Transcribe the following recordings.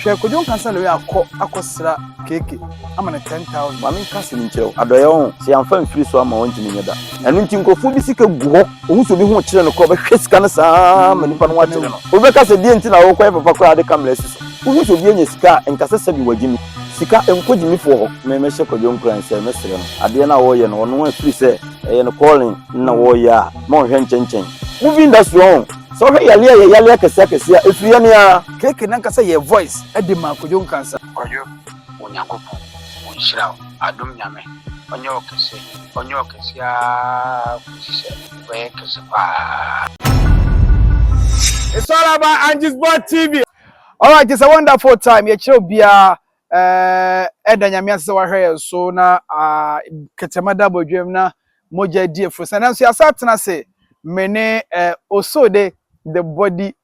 Hwɛ kwadwo nka sɛ Loya kɔ akɔsra Keke ama no ten thousand. Maame nka asɛm nkyerɛ wo. Adɔeɛ ho, sɛ yɛamfa amfiri so ama a ɔntumi nyɛ da. Ɛno nti nkurɔfoɔ bi sika gu hɔ, ɔhu sɛ obi ho rekyere no koraa ɔbɛhwɛ sika no saa ara ma nipa no ho akyere no. Obi bɛka sɛ deɛn nti na worekɔyɛ papa koraa a wode camera asi so? Wohu sɛ obi anya sika a, nka sɛ sɛbi wagye no. Sika nkɔ gyimifoɔ hɔ. Me mɛhyɛ kwadwo nkuran sɛ mɛsrɛ no adeɛ no a ɔreyɛ no ɔno ɛfiri sɛ ɛyɛ ne calling na ɔreyɛ a ma ɔnhwɛ nkyɛnkyɛn. Movie industry ɔho, sɛ wohwɛ yareɛ a ɛyɛ yareɛ akɛseɛ akɛseɛ a ɛfiri yɛn aa. Keke nankasa yɛ voice ɛde maa Kwadwo Nkansah. Kwadwo Onyankopɔn ɔnhyira wo adom Nyame ɔnyɛ wo kɛse ɔnyɛ wo kɛse aa kosi sɛ wobɛyɛ kɛse paa. It's all about Angie's Board TV. Alright, it's a wonderful time. Yɛkyerɛ obiara eh, ɛda nyame ase sɛ wahwɛ yɛn so na ah, kɛtɛma da abɔdwam na mogya di afuru sɛ nanso yɛasa atena ase me ne eh, Osode the body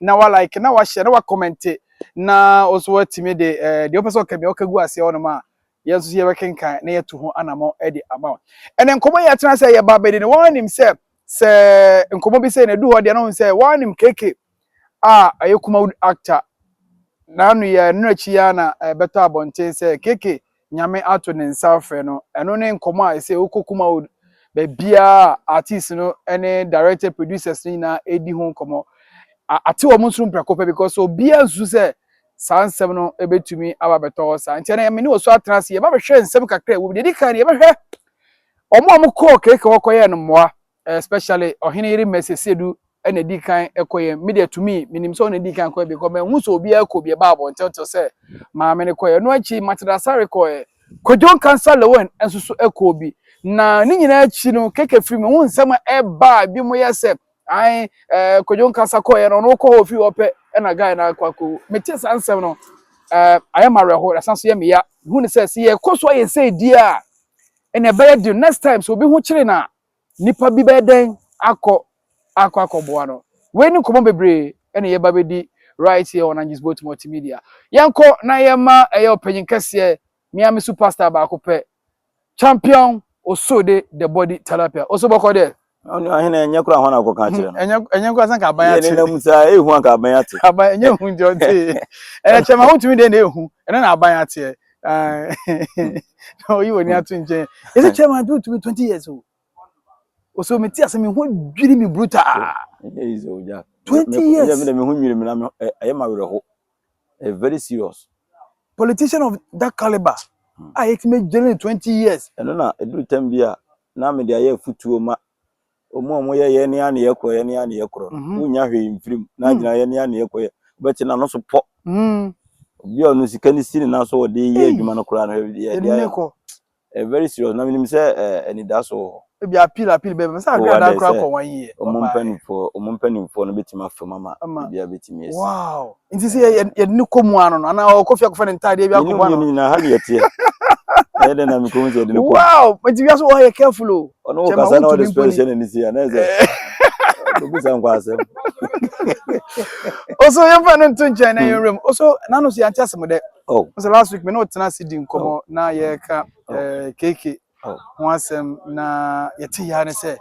na wa like na wa share na wa comment na nso watumi de eh, deɛ ɔpɛ sɛ ɔka bia ɔka gu aseɛ hɔnom a yɛn nso so yɛbɛkenkan na yɛatu ho anammɔ de ama wo ɛnɛ nkɔmmɔ yi atena sɛ yɛba bɛdi no wɔanim sɛ sɛ nkɔmmɔ bi sɛ na ɛdu hɔ deɛ no ho sɛ wɔanim keke a ɛyɛ kuma actor na ano yɛ ɛno akyi yɛ na ɛbɛtɔ abɔnten sɛ keke Nyame ato ne nsa afrɛ no ɛno ne nkɔmɔ a ɛsɛ wokɔ Kumawood baabiara a artist no ne director producers no nyinaa ɛdi ho nkɔmɔ ate wɔn nso mprɛko pɛ because obiara nsu sɛ saa nsɛm no ɛbɛtumi aba bɛtɔ hɔ saa nti ɛna yɛmene wɔ so atena ase yɛba bɛhwɛ nsɛm kakra ɛwɔ mu deɛ ɛdi kan no yɛbɛhwɛ wɔn a wɔkɔɔ keke hɔ kɔyɛɛ no mmoa especially ɔhene yere mɛsɛ sedu ɛna edi kan ɛkɔ yɛ me deɛ tumi menim sɛ ɔna edi kan kɔ yɛ because mɛhu sɛ obi ɛkɔ bi ɛba abɔ ntɛntɛ sɛ maame ne kɔ yɛ no akyi matena sare kɔ yɛ kwadwon kansa lewin nso so ɛkɔ bi na ne nyinaa akyi no keke firi mu ho nsɛm a ɛba bi mo yɛ sɛ ae ɛɛ kwadwon kansa kɔ yɛ no ɔno kɔ hɔ firi hɔ pɛ ɛna guy na akɔ akɔ mete saa nsɛm no ɛɛ ayɛ ma awerɛho na san so yɛ meya hu ne sɛ sɛ yɛkɔ so ayɛ sɛ di a ɛna ɛbɛyɛ de next time so obi ho kyere na Nnipa bi bɛyɛ dɛn akɔ akɔ akɔboa no? Wei ne nkɔmmɔ bebree ɛna yɛba bɛdi right here on Angie's Boat Multimedia. Yɛnkɔ na yɛma ɛyɛ ɔpanyin kɛseɛ, me ara me su pastor baako pɛ, Champion Osode the Body Tilapia. Oso bɔkɔ deɛ? Ɔno ahene ɛnyɛ koraa hɔ na akɔka akyerɛ no. Ɛnyɛ ɛnyɛ nkoraa sɛ nka aban Yɛ ate. ne nam saa ehu anka aban ate. Aban ɛnyɛ ehu nti ɔte. Ɛyɛ kyɛma wontumi deɛ na ehu, ɛno na aban ateɛ. na ɔyi w'ani ato nkyɛn ɛsɛ chairman do tumi twenty years o ɔsɛ mete ase me ho dwiri me bruta twenty years me ho dwiri me na ɛyɛ ma werɛ ho very serious politician of that caliber hmm. a yɛtumi gyere ne twenty years ɛno na ɛduru tam bi a na mede ayɛ afutuo ma Wɔn a wɔyɛ yɛn ne ano yɛ korɔ yɛn ne ano yɛ korɔ no, mm-hmm. wonya hwee mfirim mm. na agyina yɛn ne ano yɛ korɔ yɛ wobɛte n'ano so pɔ. Mm. Obi a ɔno sika ne si ne nan so wɔde yɛ adwuma no koraa no yɛ deɛ eh, very serious na menim sɛ eh, anidaso wɔ hɔ. Ebi appeal appeal bɛbɛ mɛ sɛ agrada koraa kɔ wɔn yie. Wɔn mpanimfoɔ wɔn mpanimfoɔ no bɛtumi afam ama ebi a bɛtumi asi. Wow. nti sɛ yɛde no kɔ mu ano no anaa ɔkɔ fie akɔfa ne ntaadeɛ bi akɔbɔ ano nyina ha ne yɛteɛ ɛyɛ dɛ na mekɔhu sɛ yɛde no kɔ wow nti wiase wɔ ha yɛ careful o ɔno wɔ kasa na ɔde spɛl hyɛ n'ani si a na ɛsɛ obisa nkɔ asɛm ɔso yɛmfa no nto nkyɛn na hmm. yɛwerɛ mu ɔso nano so yɛante asɛm dɛ oh. sɛ last week me ne ɔtena ase di nkɔmmɔ oh. na yɛka oh. eh, keke ho asɛm na yɛte yɛa ne sɛ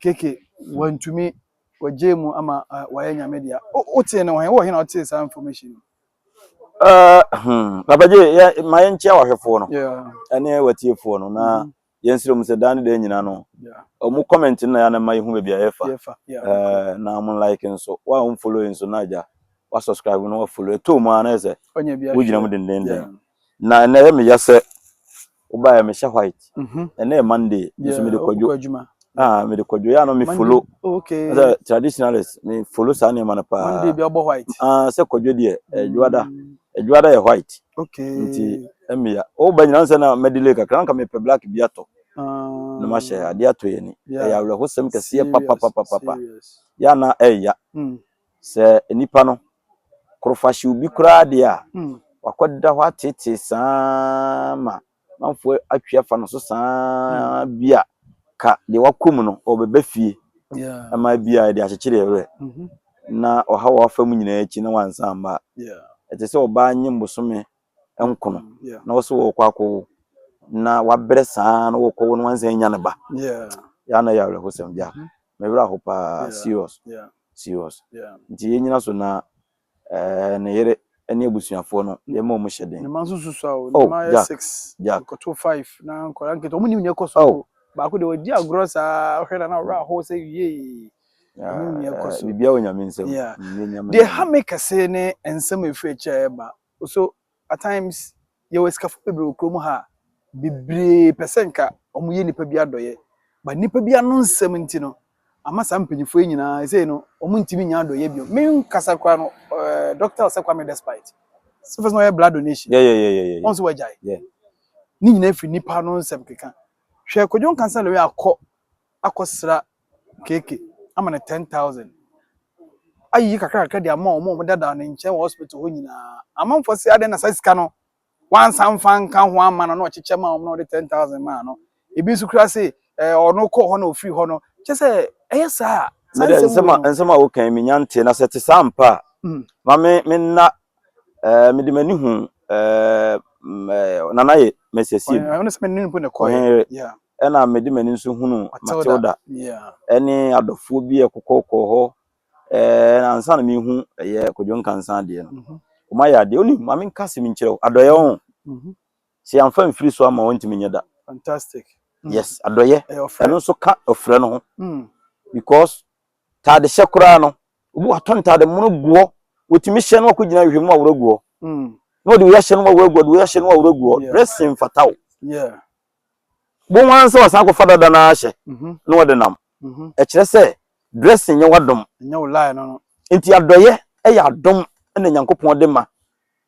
keke wantumi Wagyae mu ama wayɛ nyame dea. Wotee no wɔ he? Wowɔ he na wotee saa information no? Uh, hmm. Papa Gye, yɛ, ma yɛnkyia wahwɛfoɔ no. Yeah. Ɛne watiefoɔ no. Na mm-hmm. yɛnsrɛ mu sɛ daa ne daa nyina no. Yeah. Ɔmo comment no na yɛana ma yɛhu baabi a yɛfa. Yɛfa, yeah. Uh, na ɔmo like nso. Wa ɔmo follow nso na agya. Wa subscribe no wa follow. Ɛtɔ mu a na yɛ sɛ. Wogyina mu dendenden. Yeah. Na ɛnɛ yɛ meyɛ sɛ Wobaeɛ me hyɛ white. Mhm. Ɛnɛ yɛ Monday. Me so me de kwadwo. Kwadwuma. Ah, me de kwadwo. Ya no me follow. Okay. Sɛ traditionalist me follow saa nneɛma no paa. Monday bi ɔbɔ white. Ah, sɛ kwadwo deɛ adwuada. Mm. Adwuada yɛ white. Okay. Nti mmea. O ba nyina sɛ na me delay kakra nka me pɛ black bi atɔ. Ah. Na ma hyɛ ade atɔ yɛ ni. Ɛyɛ awerɛhosɛm kɛseɛ papapapapa. Ya na ɛya. Mm. Sɛ nipa no. korofahyew bi koraa deɛ a, wakɔda hɔ ateetee saa ma amanfoɔ atwi afa no so saa bi a, ka deɛ wakɔ mu no, ɔbɛbɛ fie ma bi a ɛde akyekyere ɛwerɛ na ɔhaw a wafa mu nyinaa akyi na wansan mma a, ɛte sɛ ɔbaa nye mbosome nkono na wɔso wɔkɔ akɔwo na wabrɛ saa na wɔkɔwo no wansan nya ne ba yɛ na yɛ awerɛhosɛm bia mhm. mewerɛ ho paa serious serious nti yɛnyina so na eh, ne yere ne abusuafoɔ no yɛma ɔmo hyɛ den oh, jack oh. baako deɛ wɔdi agorɔ saa hwɛ na na ɔwerɛ ahɔ sɛ yee biribiara wɔ nyame nsɛm deɛ ha me kɛse ne nsɛm ɛfiri akyirɛ ɛba So at times yɛwɔ asikafo bebree wɔ kurom ha a bebree pɛ sɛ nka wɔyɛ nnipa bi adɔyɛ but nnipa bi ano nsɛm nti no ama saa mpanyinfoɔ yi nyinaa ɛsɛ no wɔntumi nya adɔyɛ bio me nkasa koraa no ɛɛ doctor ɔsɛ kwame despite sɛ fɛsɛ ɔyɛ blood donation Yeah, yeah, yeah, yeah, yeah. wɔn nso wɔagyae Yeah. ne nyinaa firi nnipa ano nsɛm keka hwɛ kwadwo nkansa lewɛ akɔ akɔsra kk ama no ten thousand ayiyi kakra kakra de ama wɔn a wɔdada ne nkyɛn wɔ hospital hɔ nyinaa amanfoɔ sɛ adɛn na saa sika no wansan mfa nka ho ama no na ɔkyekyɛ ma wɔn na ɔde ten thousand maa no ebi nso kura se ɛɛ ɔno kɔ hɔ na ofiri hɔ no kyɛ sɛ ɛyɛ saa a saa mede nsɛm nsɛm a nsɛm a wokan menya nte na sɛ te saa mpa a ma me menna Eh, mede m'ani hu eh, eh, nana yɛ mɛsɛsie ɔhenere ɛna mede m'ani nso hunu matilda ɛne adɔfoɔ bi ɛkokɔkɔɔ hɔ eh, na ansa na mehu ɛyɛ kodwo nkansa adeɛ no mhm. ɔma yɛ adeɛ wonim ma menka se menkyerɛ wo adɔyɛ wo mhm. sɛ yɛmfa mfiri so ama wɔntumi nyɛ da fantastic mm. yes adɔyɛ ɛno nso ka ɔfrɛ no ho mm. because Ntaade hyɛ koraa no, obi watɔ ntaade mono gu hɔ, watumi hyɛ no akɔgyina nhwehwɛmu aworɔ gu hɔ. Mm. Na ɔde wei ahyɛ no aworɔ gu hɔ, ɔde wei ahyɛ no aworɔ gu hɔ. Dressing mfata o. Bohu ara sɛ wasan akɔfa dada no ahyɛ mm-hmm. na ɔde nam. Mm-hmm. Ɛkyerɛ sɛ dressing nyɛ w'adom. Nyɛ wo line no. Nti adɔyɛ ɛyɛ adom ɛna Nyankopɔn de ma.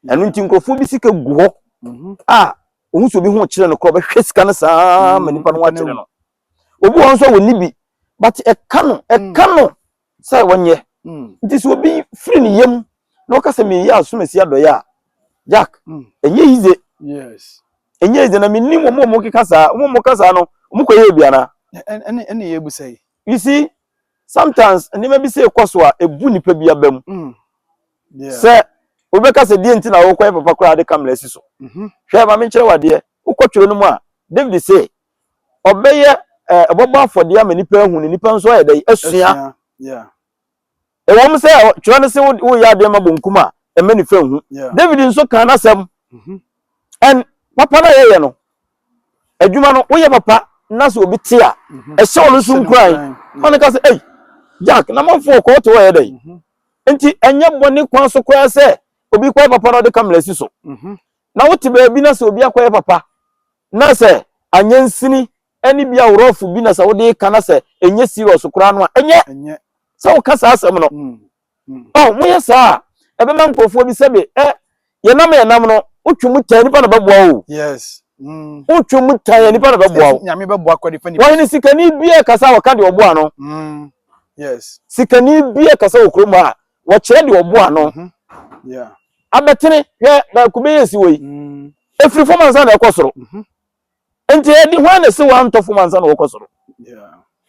Ɛno nti nkurɔfoɔ bi sika gu hɔ mm-hmm. a ohun sɛ obi ho kyerɛ no korɔ bɛhwɛ sika no saa ma nipa no ho akyerɛ no. obi wɔ hɔ nso a wɔnni bi but ɛka no ɛka no sɛ wɔnyɛ nti sɛ obi firi ne yam na ɔka sɛ meyɛ asomasi adɔyɛ a jack ɛnyɛ yize ɛnyɛ yize na menim wɔn a wɔn keka saa wɔn a wɔn ka saa no wɔn kɔ yɛ bi ana. ɛne ɛne yɛ ebusa yi. you see sometimes nneɛma bi sɛ ɛkɔ so a ebu nipa bi aba mu sɛ wobɛka sɛ deɛ nti na wɔkɔ yɛ papa koraa de kamera si so hwɛ maame nkyerɛ wadeɛ wokɔ twere no mu a david sɛ ɔbɛyɛ ɛɛ ɔbɛbɔ afɔdeɛ ama nipa ahu na nipa nso ayɛ dɛ asua ɛwɔm sɛ twerɛ no se woyɛ adeɛ ma bonkum a ɛmɛ nifa nhu david nso kan n'asɛm mm-hmm. and papa no a yɛyɛ no adwuma no woyɛ papa na sɛ obi te a mm-hmm. ɛhyɛ ɔno nso nkuran ɔno ka sɛ ei jack na manfo ɔkɔɔ te wɔyɛ dɛ mm-hmm. nti ɛnyɛ bɔne kwan so koraa sɛ obi kɔyɛ papa na ɔde kamera si so na wote baabi na sɛ obi akɔyɛ papa Na sɛ anyɛ nsini ne bi a rough bi na sɛ wode reka na sɛ ɛnyɛ serious koraa no a, ɛnyɛ sɛ woka saa asɛm no. Oh, moyɛ saa a, ɛbɛma nkurɔfoɔ bi sɛbe ɛ, yɛnam a yɛnam no, wotwe mu tan, nipa na bɛboa wo o. Wotwe mu tan a, nipa na bɛboa wo. Wɔhene sikani biara kasa a, wɔka deɛ ɔboa no. Sikani biara kasa wɔ kurom ha a, wɔkyerɛ deɛ ɔboa no abɛtene hwɛ na kube yɛ si wɔ yi mm. ɛfiri fam ansa na ɛkɔ soro mhm. nti ɛde hwan na ɛsɛ wɔantɔ fam ansa na wɔkɔ soro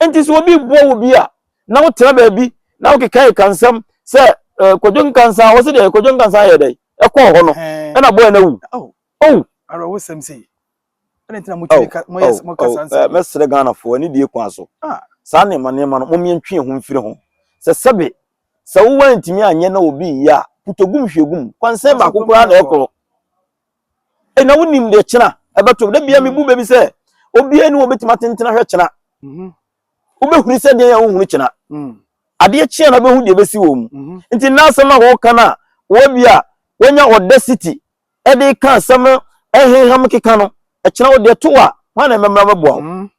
nti sɛ obi boa wo bi a na wotena baabi na wokeka ɛka nsɛm sɛ eh, kwadwo nkansa wɔ sɛ deɛ kwadwo nkansa yɛ dɛn ɛkɔɔ hɔ no ɛna boa no awu oh. owu ɛna ntina mo tumi ka mo yɛ mo kasa nsɛm mɛsrɛ ghanafoɔ ne die kwan so saa nneɛma nneɛma no mɔmmeɛ ntwe ho mfiri ho sɛ sɛbe sɛ wowa ntumi anyɛ na obi yɛ a putogum hwegum kwansɛn baako koraa na ɛkorɔ ɛna wonim deɛ kyena ɛbɛtom da bia mebu baabi sɛ obiara ni wɔbɛtumi atentena hwɛ kyena wobɛhunu sɛ deɛ yɛ wohunu kyena adeɛ kyeɛ na bɛhu deɛ bɛsi wɔ mu nti na asɛm a wɔka no a wɔbi a wɔnya audacity de reka asɛm no reheha me keka no, ɛkyena wo deɛ to a, hwan na ɛbɛmmra mɛboa wo?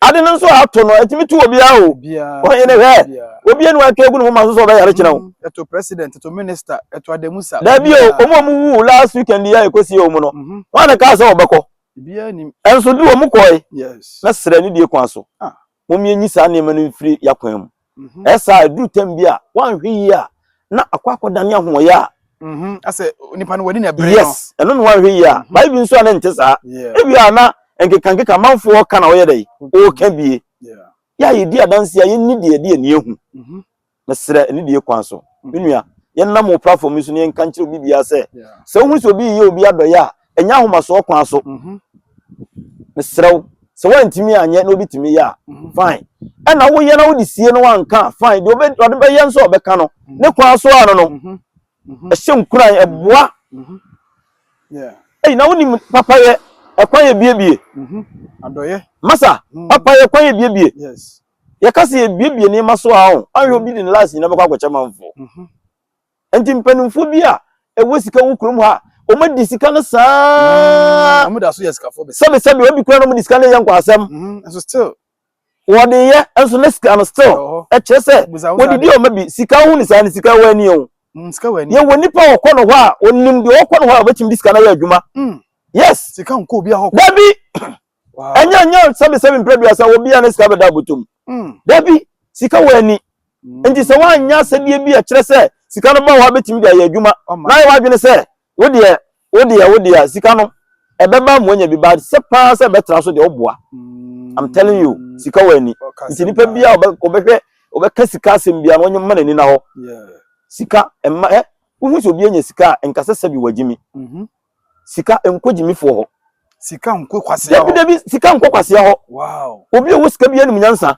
Ade no nso a ato no, ɛtumi to obiara o. Ɔhene hwɛ, obi ani wanka egu ne moma so sɛ ɔbɛyare kyena wo. Ɛto president, ɛto minister, ɛto adamusa. Dabi o, wɔn a wɔwuwu last weekend yi a ɛkɔsie wɔn no, hwan na kaa sɛ wɔbɛkɔ? Ɛnso du wɔn kɔe na srɛ ne die kwan so. Mom yɛnyi saa nneɛma no mfiri y'akwan mu. Ɛyɛ saa a, ɛduru tɛm bi a, woanhwɛ yie a, na akɔ akɔdane ahoɔyɛ a. Asɛ nipa no w'ani na ɛbere no. Yes, ɛno na woanhwɛ yie a. Bae bi nso a na ɛnte saa. Ebia a na nkekankeka amanfoɔ reka na wɔyɛ dɛn? Wɔreka bie. Yɛ a yɛdi adanseɛ a, yɛnni deɛ yɛde yɛn ani ahu. Mesrɛ, ɛne die kwan so? Me nua, yɛnnam wo platform yi so na yɛnka nkyerɛ obi biara sɛ, sɛ wohunu sɛ obi reyɛ obi adɔeɛ a, ɛnyɛ ahomasoɔ kwan so. Mhm. Mesrɛ wo, sɛ woantumi anyɛ na obi tumi yɛ a, mhm. fine. Ɛna woyɛ na wode sie no wanka a, fine. Deɛ ɔde bɛyɛ nso a ɔbɛka no, mhm. ne kwan so a no no, ɛhyɛ nkuran, ɛboa. Ɛyi, na wonim papayɛ, ɛkwan yɛ biebie. Adɔeɛ. Masa, papayɛ, ɛkwan yɛ biebie. Yes. Yɛka sɛ yɛbuebue nneɛma so a, anhwɛ obi de ne life nyinaa bɛkɔ akɔkyɛ manfoɔ. Nti mpanimfoɔ bi a ɛwɔ sika wɔ kurom ha, wɔadi sika no saa. Mm, wɔda so yɛ sikafoɔ bɛsɛ. Sɛbe sɛbe, obi kura na wɔde sika no yɛ nkwaasɛm. Mm, nso still. Wɔde yɛ, nso na sika no still. Ɛkyerɛ sɛ, wɔdidi ɔma bi, sika ho ne saa ne sika wɔ ani o. Mm, sika wɔ ani. Yɛwɔ nipa wɔkɔ no hɔ a, wɔnim deɛ wɔkɔ no hɔ a wɔbɛtumi de sika no ayɛ adwuma. Mm. Yes. Sika nkɔ obi ahɔ. Dabi. ɛnyɛ ɛnyɛ sɛbisɛbi mpere duasa wɔ bia ne sika bɛda abotom hmm. dabi sika wɔ ani hmm. nti sɛ woanyɛ asɛdeɛ bi a ɛkyerɛ sɛ sika no ba hɔ abɛtumi de ayɛ adwuma na yɛ wadwene sɛ wodeɛ wodeɛ wodeɛ sika no ɛbɛba mu anya bi ba sɛ paa sɛ ɛbɛtra so deɛ woboa hmm. i'm telling you sika wɔ ani nti nipa bi a ɔbɛhwɛ ɔbɛka sika asɛm bia na ɔnyɛ mma n'ani na hɔ sika ɛma ɛ wohu sɛ obi anya sika a nkasɛ sɛbi wagyimi mhm. sika nkɔ gyimifoɔ hɔ. Sika nkɔ kwasea hɔ. Dabi dabi sika nkɔ kwasea hɔ. Wow. Obi a ɔwɔ sika bi anim nyansa.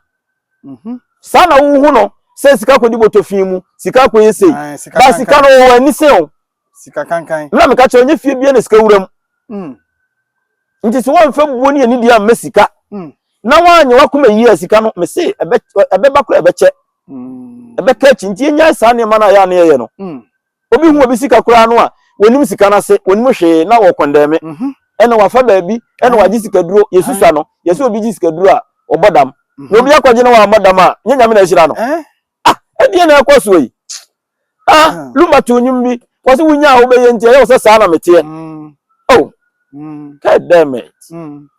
Mhm. Saa na wohu no sɛ sika kɔ di bɔtɔ fi mu, sika kɔ yɛ sei. Ba sika no wɔ ani sɛn o. Sika kankan. Mena meka kyerɛ nye fie bia na sika wura mu. Mm. Nti sɛ wɔmfa buo ne anidie ammɛ sika mm. na wɔanyɛ wakoma yie a sika no mese ɛbɛba kora ɛbɛkyɛ mm. ɛbɛka akyi nti yɛnyae saa nneɛma no a yɛ a ne yɛyɛ no mm. Obi hu obi sika koraa no a, wɔnim sika no ase, wɔnim hwee na wɔkɔndɛme. Ɛna wafa baabi, ɛna wagye sikaduro, yɛsusua no. Yɛsɛ obi gye sikaduro a, ɔbɔ dam. Na obi akɔgye na wammɔ dam a, nyɛ Nyame na ahyira no. Ah, ɛdeɛ na ɛkɔ soɔ yi. Ah, Luma too nnwom bi, wɔse wonya a wobɛyɛ nti, ɛyɛ wo sɛ saa na meteɛ. Oh, God damn it.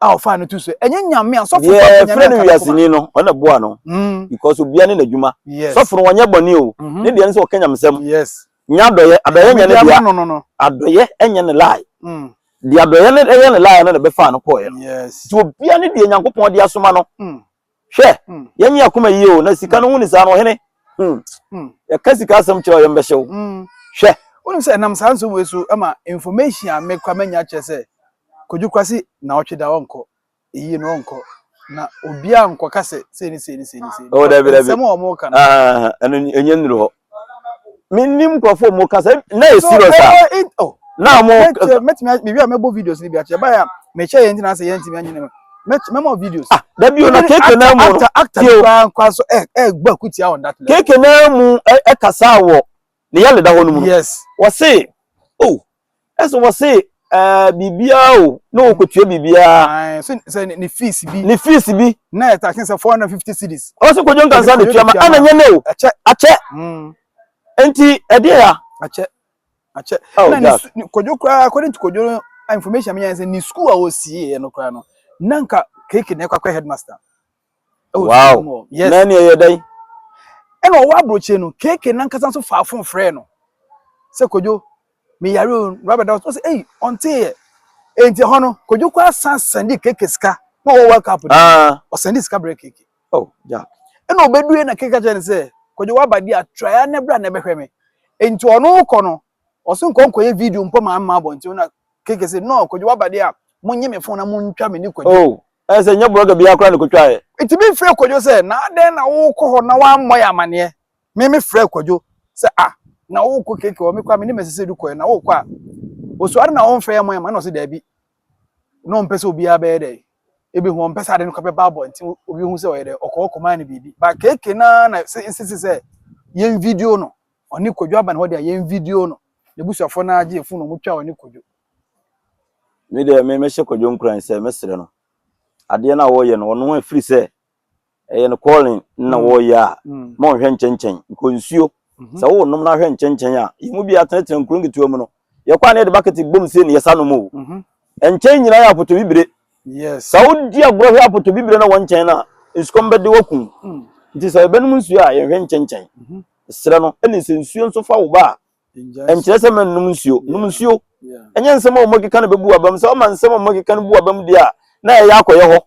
a ɔfaa no to so ɛnyɛ nyame a sɔfo deɛ ɛfrɛ no wiaseni no ɔno na boa no mm. because obia ne n'adwuma sɔfo no wɔnyɛ bɔne o mhm. ne deɛ no sɛ ɔka nyamesɛm nya adɔyɛ adɔyɛ nyɛ ne deɛ adɔyɛ ɛnyɛ ne lie mm. deɛ adɔyɛ no ɛyɛ ne lie no na ɛbɛfaa no kɔɔɛ no nti obia ne deɛ nyankopɔn de asoma no mm. Hwɛ, yɛnye akoma yie o, na sika no ho ni saa no, ɔhene, yɛka sika asɛm kyerɛ a yɛmbɛhyɛ wo. Hwɛ. Wonim sɛ ɛnam saa nsɛm wei so ma information a me kora manya kyerɛ sɛ Kwadwo Kwasi naawɔtwe da ɔnkɔ, eyie no ɔnkɔ, na obiara nkɔka sɛ sei ne sei ne sei ne sei. Oh, dabi, dabi. Nsɛm a wɔka no. Ah, ɛno ɛnyɛ nnuru hɔ. menim nkurɔfoɔ mu kasa na yɛ serious a na mo mɛtumi mewie a mɛbɔ videos no bi akyɛ ɛbaeɛ a mekyɛ yɛ ntina sɛ yɛntumi anyene mu mɛma videos ah da bio na keke na mu actor actor koraa nkwa so ɛ ɛgbɔ akutia on that level keke na mu ɛkasa wɔ ne yɛle da hɔ no mu yes wɔse oh ɛsɛ wɔ se ɛɛ biribiara o na ɔkɔtua biribiara. Ae, so sɛ ne fees bi. Ne fees bi. na ɛtaken sɛ 450 cedis. ɔwɔ sɛ kɔdwo nkansa na tua ma ana nyɛ ne o. akyɛ akyɛ mm. nti ɛdeɛ ya. akyɛ akyɛ oh, na ne kɔdwo koraa according to kɔdwo no information menya sɛ ne school a ɔsieɛ no koraa no na nka keke na ɛkɔ akɔ headmaster ɛwɔ wow. mu hɔ yes na nea yɛ dɛn ɛna ɔwɔ aburokyire no keke nankasa nso faa fon frɛ no sɛ kodwo meyare o raba da ɔsɛ ei ɔnteeɛ enti hɔ no kodwo kɔ asan sɛnde keke sika na ɔwɔ world cup no ah. ɔsɛnde sika brɛ keke oh, yeah. ɛna ɔbɛdue na keke kyerɛ no sɛ kodwo waba di a traya ne bra na ɛbɛhwɛ me enti ɔno kɔ no Ɔse nkɔ nkɔyɛ video mpo ma amma abɔnten na Keke se no Kwadwo waba deɛ a monye me phone na montwa me ne Kwadwo. Oh ɛɛ sɛ nyɛ blogger biaa koraa na ɛkɔtwaeɛ. Nti me frɛɛ Kwadwo sɛ na adɛn na wokɔ hɔ na woammɔ yɛ amaneɛ me me frɛɛ Kwadwo sɛ ah na wokɔ Keke hɔ mekɔ a me ne Mercy Seidu kɔɛ na wokɔ a osuo adɛn na womfrɛ yɛ mmɔ yɛ amaneɛ na ɔse daabi na ɔmpɛ sɛ obiaa bɛyɛ dɛn ɛbɛhu ɔmpɛ sɛ ade no kɔ bɛba abɔnten obi hu sɛ ɔyɛ dɛn ɔkɔ hɔ kɔmaa no biribi but Keke naa na nsisi sɛ yɛn video no. Ɔne Kwadwo aba ne hɔ deɛ yɛn video no n'abusuafoɔ no ara gye fon na wɔn twa ɔne Kwadwo. Me deɛ me mɛhyɛ Kwadwo nkuran sɛ mɛsrɛ no adeɛ no a wɔreyɛ no ɔno ɛfiri sɛ ɛyɛ no calling na mm. wɔreyɛ a mm. ma ɔnhwɛ nkyɛnkyɛn nkɔ nsuo mhm. sɛ wo nom no ahwɛ nkyɛnkyɛn a yɛn mu bi atenatena nkuro nketewa mu no yɛkɔ a na yɛde bakete bom se ne yɛsa nom o mhm. nkyɛn nyinaa yɛ apɔtɔ bibire sɛ wodi agorɔ hwɛ apɔtɔ bibire na wɔn nkyɛn no a nsukɔm bɛde wakum mm. nti sɛ yɛbɛnom nsuo a yɛnhwɛ nkyɛnkyɛn mhm. Serɛ no ne sɛ nsuo nso fa wo ba a, ɛnkyerɛ sɛ mɛnnom nsuo. Nom nsuo. Ɛnyɛ nsɛm a wɔkeka no bɛbu w'abam. Sɛ woma nsɛm a wɔkeka no bu w'abam deɛ a, na ɛyɛ akɔyɛ hɔ.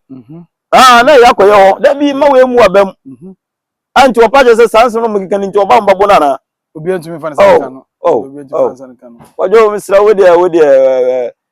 Aa, na ɛyɛ akɔyɛ hɔ. Da bi mma wei mmu w'abam. A nti wɔpa kyerɛ sɛ saa nsɛm no wɔkeka no nti wɔba mba bo no anaa? Obiara ntumi mfa ne nsa nka no. Wadwo, mesrɛ wo deɛ, wo deɛ,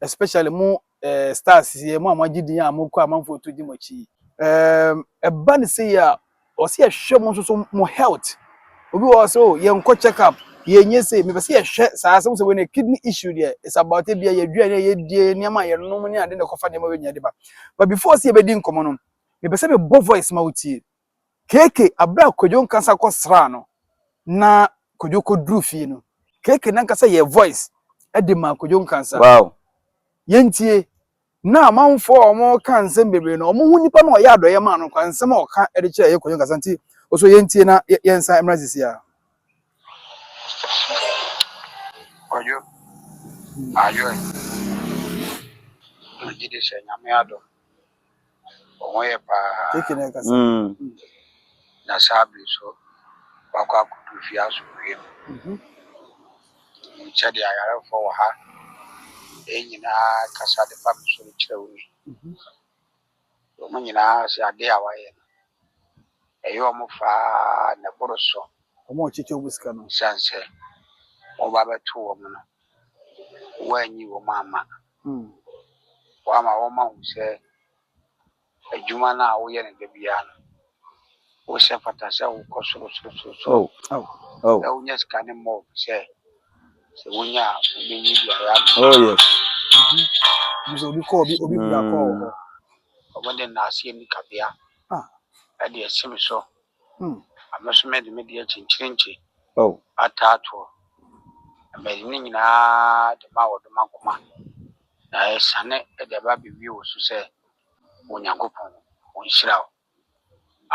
especially mo eh, stars yɛ mo a moagye din a mokɔ amanfoɔ to di mo akyi yi. Ɛɛm, ɛba ne sei a ɔsɛ yɛhwɛ mo nso so mo health obi wɔ hɔ sɛ o yɛnkɔ check up yɛnyɛ sei mepɛ sɛ yɛhwɛ saa sɛ wo sɛ wei ne kidney issue deɛ is about ebia yɛaduane a yɛdie nneɛma a yɛnom ne ade na ɛkɔfa nneɛma wei nyinaa de ba but before sɛ yɛbɛdi nkɔmmɔ no mepɛ sɛ mebɔ voice ma wotie Keke aberɛ a Kwadwo ankasa kɔ sraa no na Kwadwo kɔ duru fie no Keke nankasa yɛɛ voice de maa Kwadwo ankasa. Wow. Yɛn tie. Na amanfoɔ a wɔn ka nsɛm bebree no wɔn ho nipa no a ɔyɛ adɔeɛ maa no kwa nsɛm a ɔka de kyerɛ yɛ Kwadwo ankasa nti ɔsɔ yɛn tie na yɛn nsa mmra sisi a. Kwadwo ayɔe. Megye di sɛ Nyame adom. wɔn ho yɛ paa mm. na saa bere so wakɔ akodu fie asomdwoe mu mhm. nim sɛ deɛ ayarefoɔ wɔ ha ɛyɛ nyinaa kasa de fa me so no kyerɛ wo ni mhm. wɔn nyinaa sɛ ade a wayɛ no ɛyɛ wɔn faa na ɛboro so wɔn a wɔkyekyɛ wɔn sika no siane sɛ wɔn ba bɛto wɔn no Woanyi wɔn amma. Woama wɔahu sɛ adwuma no a woyɛ no da biara no, wo sɛ fata sɛ wokɔ sorosorosorosoro na wonya sika ne mmɔɔ fi sɛ sɛ wonya a wobɛnyi biara ama. Sɛ obi kɔ obi obi wura kɔ wɔ hɔ. Wɔde nnaaseɛ nikabea de asi me so. Ame so mede me deɛ kyenkyerenkye ataa toɔ, na mede ne nyinaa de ma wɔdɔ m'akoma, na ɛresiane de aba abɛwie wo so sɛ, O Nyankopɔn, ɔnhyira wo.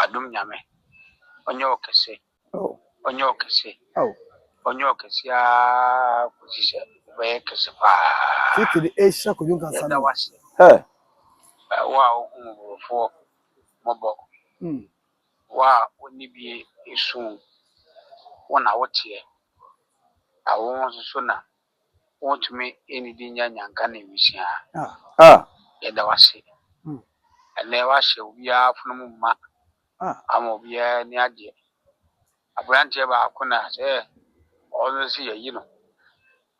Adom Nyame, ɔnyɛ wo kɛse, ɔnyɛ wo kɛse, ɔnyɛ wo kɛse ara kɔsi sɛ wobɛyɛ kɛse paa. Yɛda wo ase, Wo a wohu mmɔborɔfoɔ mmɔbɔ. Wo a wonni bi resu wo, wo na woteɛ, na wo nso so na wontumi nnidi nnya nnyanka ne nwisiaa. Yɛda wo ase ɛnnɛ woahyɛ obiara afono mu ma ama obiara ani agye. Aberanteɛ baako na sɛ ɔno nso yɛyi no.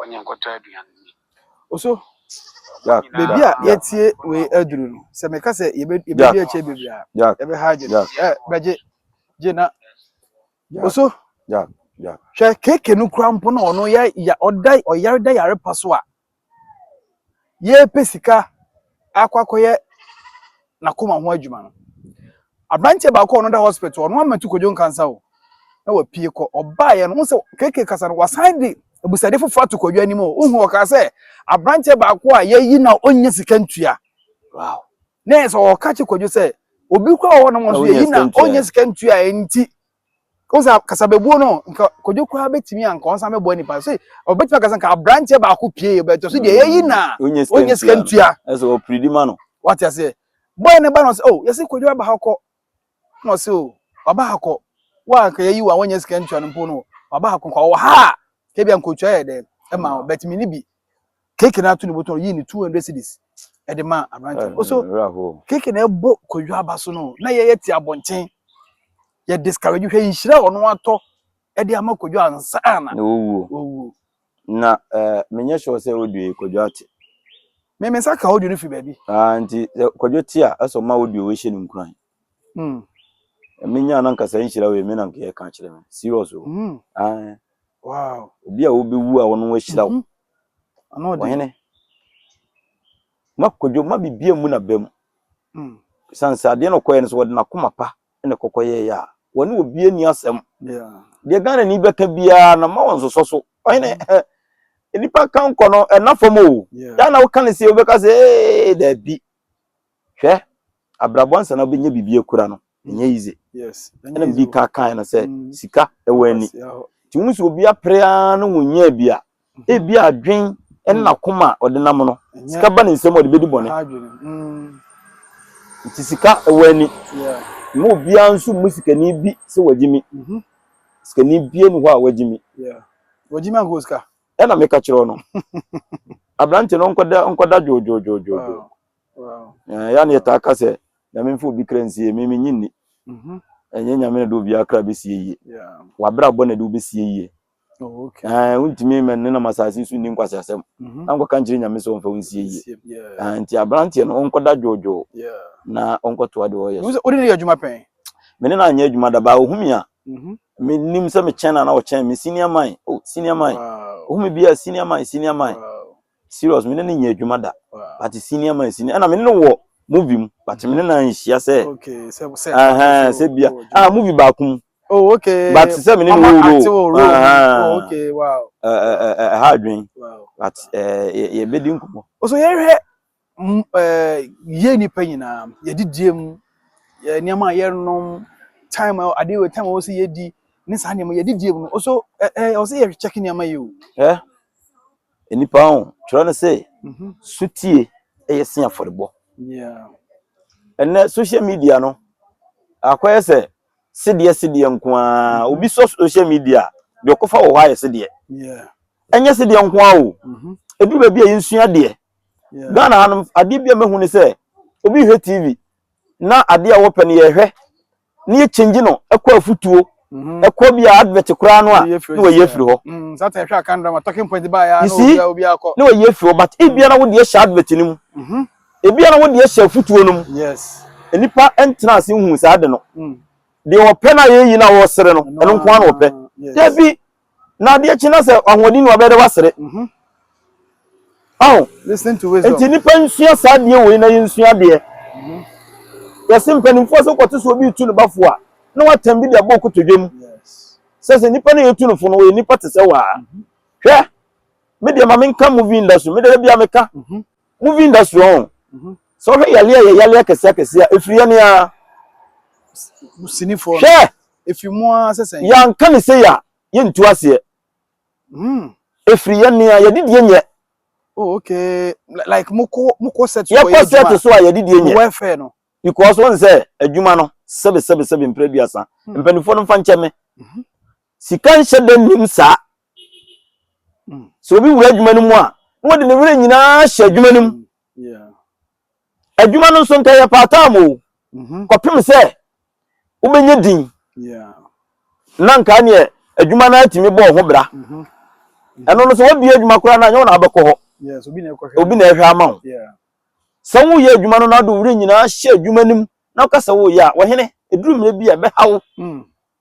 Ɔnyɛ nkɔtɔ aduan nni. Oso, baabi a yɛatie wei aduru no, sɛ meka sɛ yɛbɛdi akyɛ bebree a, yɛbɛhagye no. Ɛ bɛgye gye na Oso, hwɛ keke no kura mpo na ɔno yɛ ɔda ɔyare da yare pa so a. yɛrepɛ sika akɔ akɔyɛ n'akoma ho adwuma no aberanteɛ baako a ɔno da hospital ɔno amatu kɔdwo nkansa o na wapue kɔ ɔbaeɛ no ho sɛ keke kasa no wasan de abusade foforɔ ato kɔdwo anim o wohu ɔkaa sɛ aberanteɛ baako a yɛyi na ɔnya sika ntua wow na ɛsɛ ɔka kye kɔdwo sɛ obi kora wɔ hɔ nom nso yɛyi na ɔnya sika ntua ɛnti o sɛ kasabebuo no nka kodwo koraa bɛtumi a nka ɔnsa mɛboa nipa sɛ ɔbɛtumi akasa nka aberanteɛ baako pie bɛtɔ so deɛ mm. yɛyi na ɔnyɛ sika ntua ɛsɛ ɔpiridi ma no wate aseɛ bɔɛ ne ba no sɛ o oh, yɛsɛ kodwo aba ha kɔ na ɔsɛ o oh, waba ha kɔ wa anka yɛyi wa wɔnyɛ sika ntua no mpo no waba ha kɔ nka ɔwɔ ha a kɛbia nkotua yɛ dɛ ɛma mm. ɔbɛtumi ne bi keke na ato ne bɔtɔ yi ne two hundred cedis ɛde ma aberante no so keke na ɛbɔ kwadwo aba so no na yɛyɛ te abɔnten yɛ discourage hwɛ nhyira a ɔno atɔ ɛde ama kwadwo ansa na ɔwuo ɔwuo na ɛɛ menyɛ sure sɛ ɔdua yi kwadwo ate me me nsa ka ɔdua no fi baabi aa nti kwadwo te a ɛsɛ ɔma ɔdua ɔhyɛ no nkuran Mm. Menya na nka saa nhyira wei me na nka yɛka akyerɛ me. Serious o. Mm. Ah. Wow. Obi a wobɛwu a ɔno ahyira wo. Mm-hmm. Ano ɔde. Ɔhene. Ma kodwo ma bibia mu na bam. Mm. San sa deɛ na ɔkɔyɛ no so wɔde n'akoma pa na kɔkɔyɛ yɛ a. Wɔne obi ani asɛm. Yeah. Deɛ Ghana ni bɛka biara na ma wɔn sosɔ so. Ɔhene. Mm. nipa ka nkɔ no ɛna fam o daa na woka ne sɛ wobɛka sɛ ee daabi Hwɛ abrabɔ ansa na wobɛnya biribi akura no ɛnyɛ easy ɛna medi ka kae no sɛ sika ɛwɔ ani nti wohu sɛ obi apere ara no wonyaa bi a ebi adwen ɛne nakoma a ɔde nam no sika ba ne nsɛm a ɔde bɛdi bɔne nti sika ɛwɔ ani ma obiara nso mu sikani bi sɛ wagye mi sikani bie ne hɔ a wagye mi wagye mi ankɔ sika ɛna meka kyerɛ no aberante no nkɔda nkɔda dwoodwoodwoodwoo yɛa ne yɛtaa ka sɛ nyame mfa obi kra nsie me menye nni mhm. ɛnyɛ nyame na de obiara kra bɛsie yie wabrabɔ na de wobɛsie yie oh, wontumi mɛnenam asase so nni nkwase asɛm mhm. na nkɔka nkyerɛ nyame sɛ ɔmfa wo nsie yie nti aberanteɛ no ɔnkɔda dwoodwoo na ɔnkɔtoa deɛ ɔyɛ so wode ne yɛ adwuma pɛn mene no anyɛ adwuma dabaa ɔhumi a mhm. menim sɛ mekyɛn no ana ɔkyɛn me senior man oh, senior man ɔhumi bi a senior man senior man serious me ne no nyɛ adwuma da but senior man senior ɛna me ne no wɔ movie mu but me ne no anhyia sɛ sɛ bia ah movie baako mu oh okay but sɛ me ne no wɔ role oh okay wow ɛha adwen but yɛbɛdi nkɔmmɔ so yɛhwɛ m- ɛɛ, yɛn nnipa nyinaa, yɛdidie mu, yɛ nneɛma a yɛnom, time a adeɛ wɔ time a wɔsɛ yɛdi, ne saa nneɛma yɛdidie mu no, also ɛ ɛ wɔsɛ yɛkyɛke nneɛma yi o. Hwɛ, nnipa ho, twerɛ no sɛ, Mhm. sotie ɛyɛ se afɔrebɔ. Yeah. Ɛnɛ social media no, akɔyɛ sɛ sedeɛ sedeɛ nko ara. Obi sɔ social media a, deɛ ɔkɔfa wɔ hɔ ayɛ sedeɛ. Yeah. Ɛnyɛ sedeɛ nko ara o. Mhm. Ɛduru baabi a yɛnsua deɛ. ghana ha no adeɛ bi a mɛhu ne sɛ obi hwɛ tv na adeɛ a wɔpɛ no yɛhwɛ ne yɛ change no ɛkɔ afutuo mhm. ɛkɔ bi a advert koraa no a ne wɔyi afiri hɔ mm, you see ne wɔyi afiri hɔ but ebia na wodeɛ hyɛ advert no mu mhm. ebia na wodeɛ hyɛ afutuo no mu nnipa ntena ase nhu saa de no mm. deɛ wɔpɛ no a yɛyi no a wɔsere no ɛno nko ara na wɔpɛ dabi Na adeɛ kye na sɛ ahoɔden wɔ abɛyɛ dɛ wasere. Mhm. Ɔho. Listen to wisdom. Nti nipa nsua saa adeɛ wei na yɛnsua adeɛ. Mhm. Yɛse mpanimfoɔ sɛ kɔte sɛ obi retu ne bafo a na watam bi de abɔ kotodwe mu. Sɛ sɛ nipa no yɛtu no fo no ɔyɛ nipa te sɛ waa. Mhm. Hwɛ, me deɛ ma menka movie nda so, me dada biara meka. Mhm. movie industry wɔn o mhm. sɛ ɔhwɛ yale a yɛ yale akɛse akɛse a efiri yɛ nea sinifoɔ hwɛ efiri mu ara sɛ sɛn yanka ne sɛ yɛ a yɛ ntu aseɛ mhm. efiri yɛ nea yɛde die nyɛ oh okay like mokɔ mokɔ set so yɛkɔ set so a yɛde die nyɛ welfare no because wɔn sɛ adwuma no sɛbi sɛbi sɛbi mpere duasa mhm. mpanimfoɔ no nfa nkyɛn me sika nhyɛ dɛ nim saa sɛ obi wura adwuma no mu a na wɔde ne werɛ nyinaa hyɛ adwuma no mu adwuma no nso nka yɛ paataa mu o mm-hmm. kɔpem sɛ wobɛnya din na nka neɛ adwuma no atumi bɔɔ ho bra mm-hmm. ɛno no sɛ woabie adwuma koraa no anyɛ wo na abɛkɔ hɔ obi na ɛhwɛ ama wo sɛ woyɛ adwuma no na wode werɛ nyinaa hyɛ adwuma no mu na woka sɛ woyɛ a wɔhene ɛduru mmerɛ bi a ɛbɛha wo mm.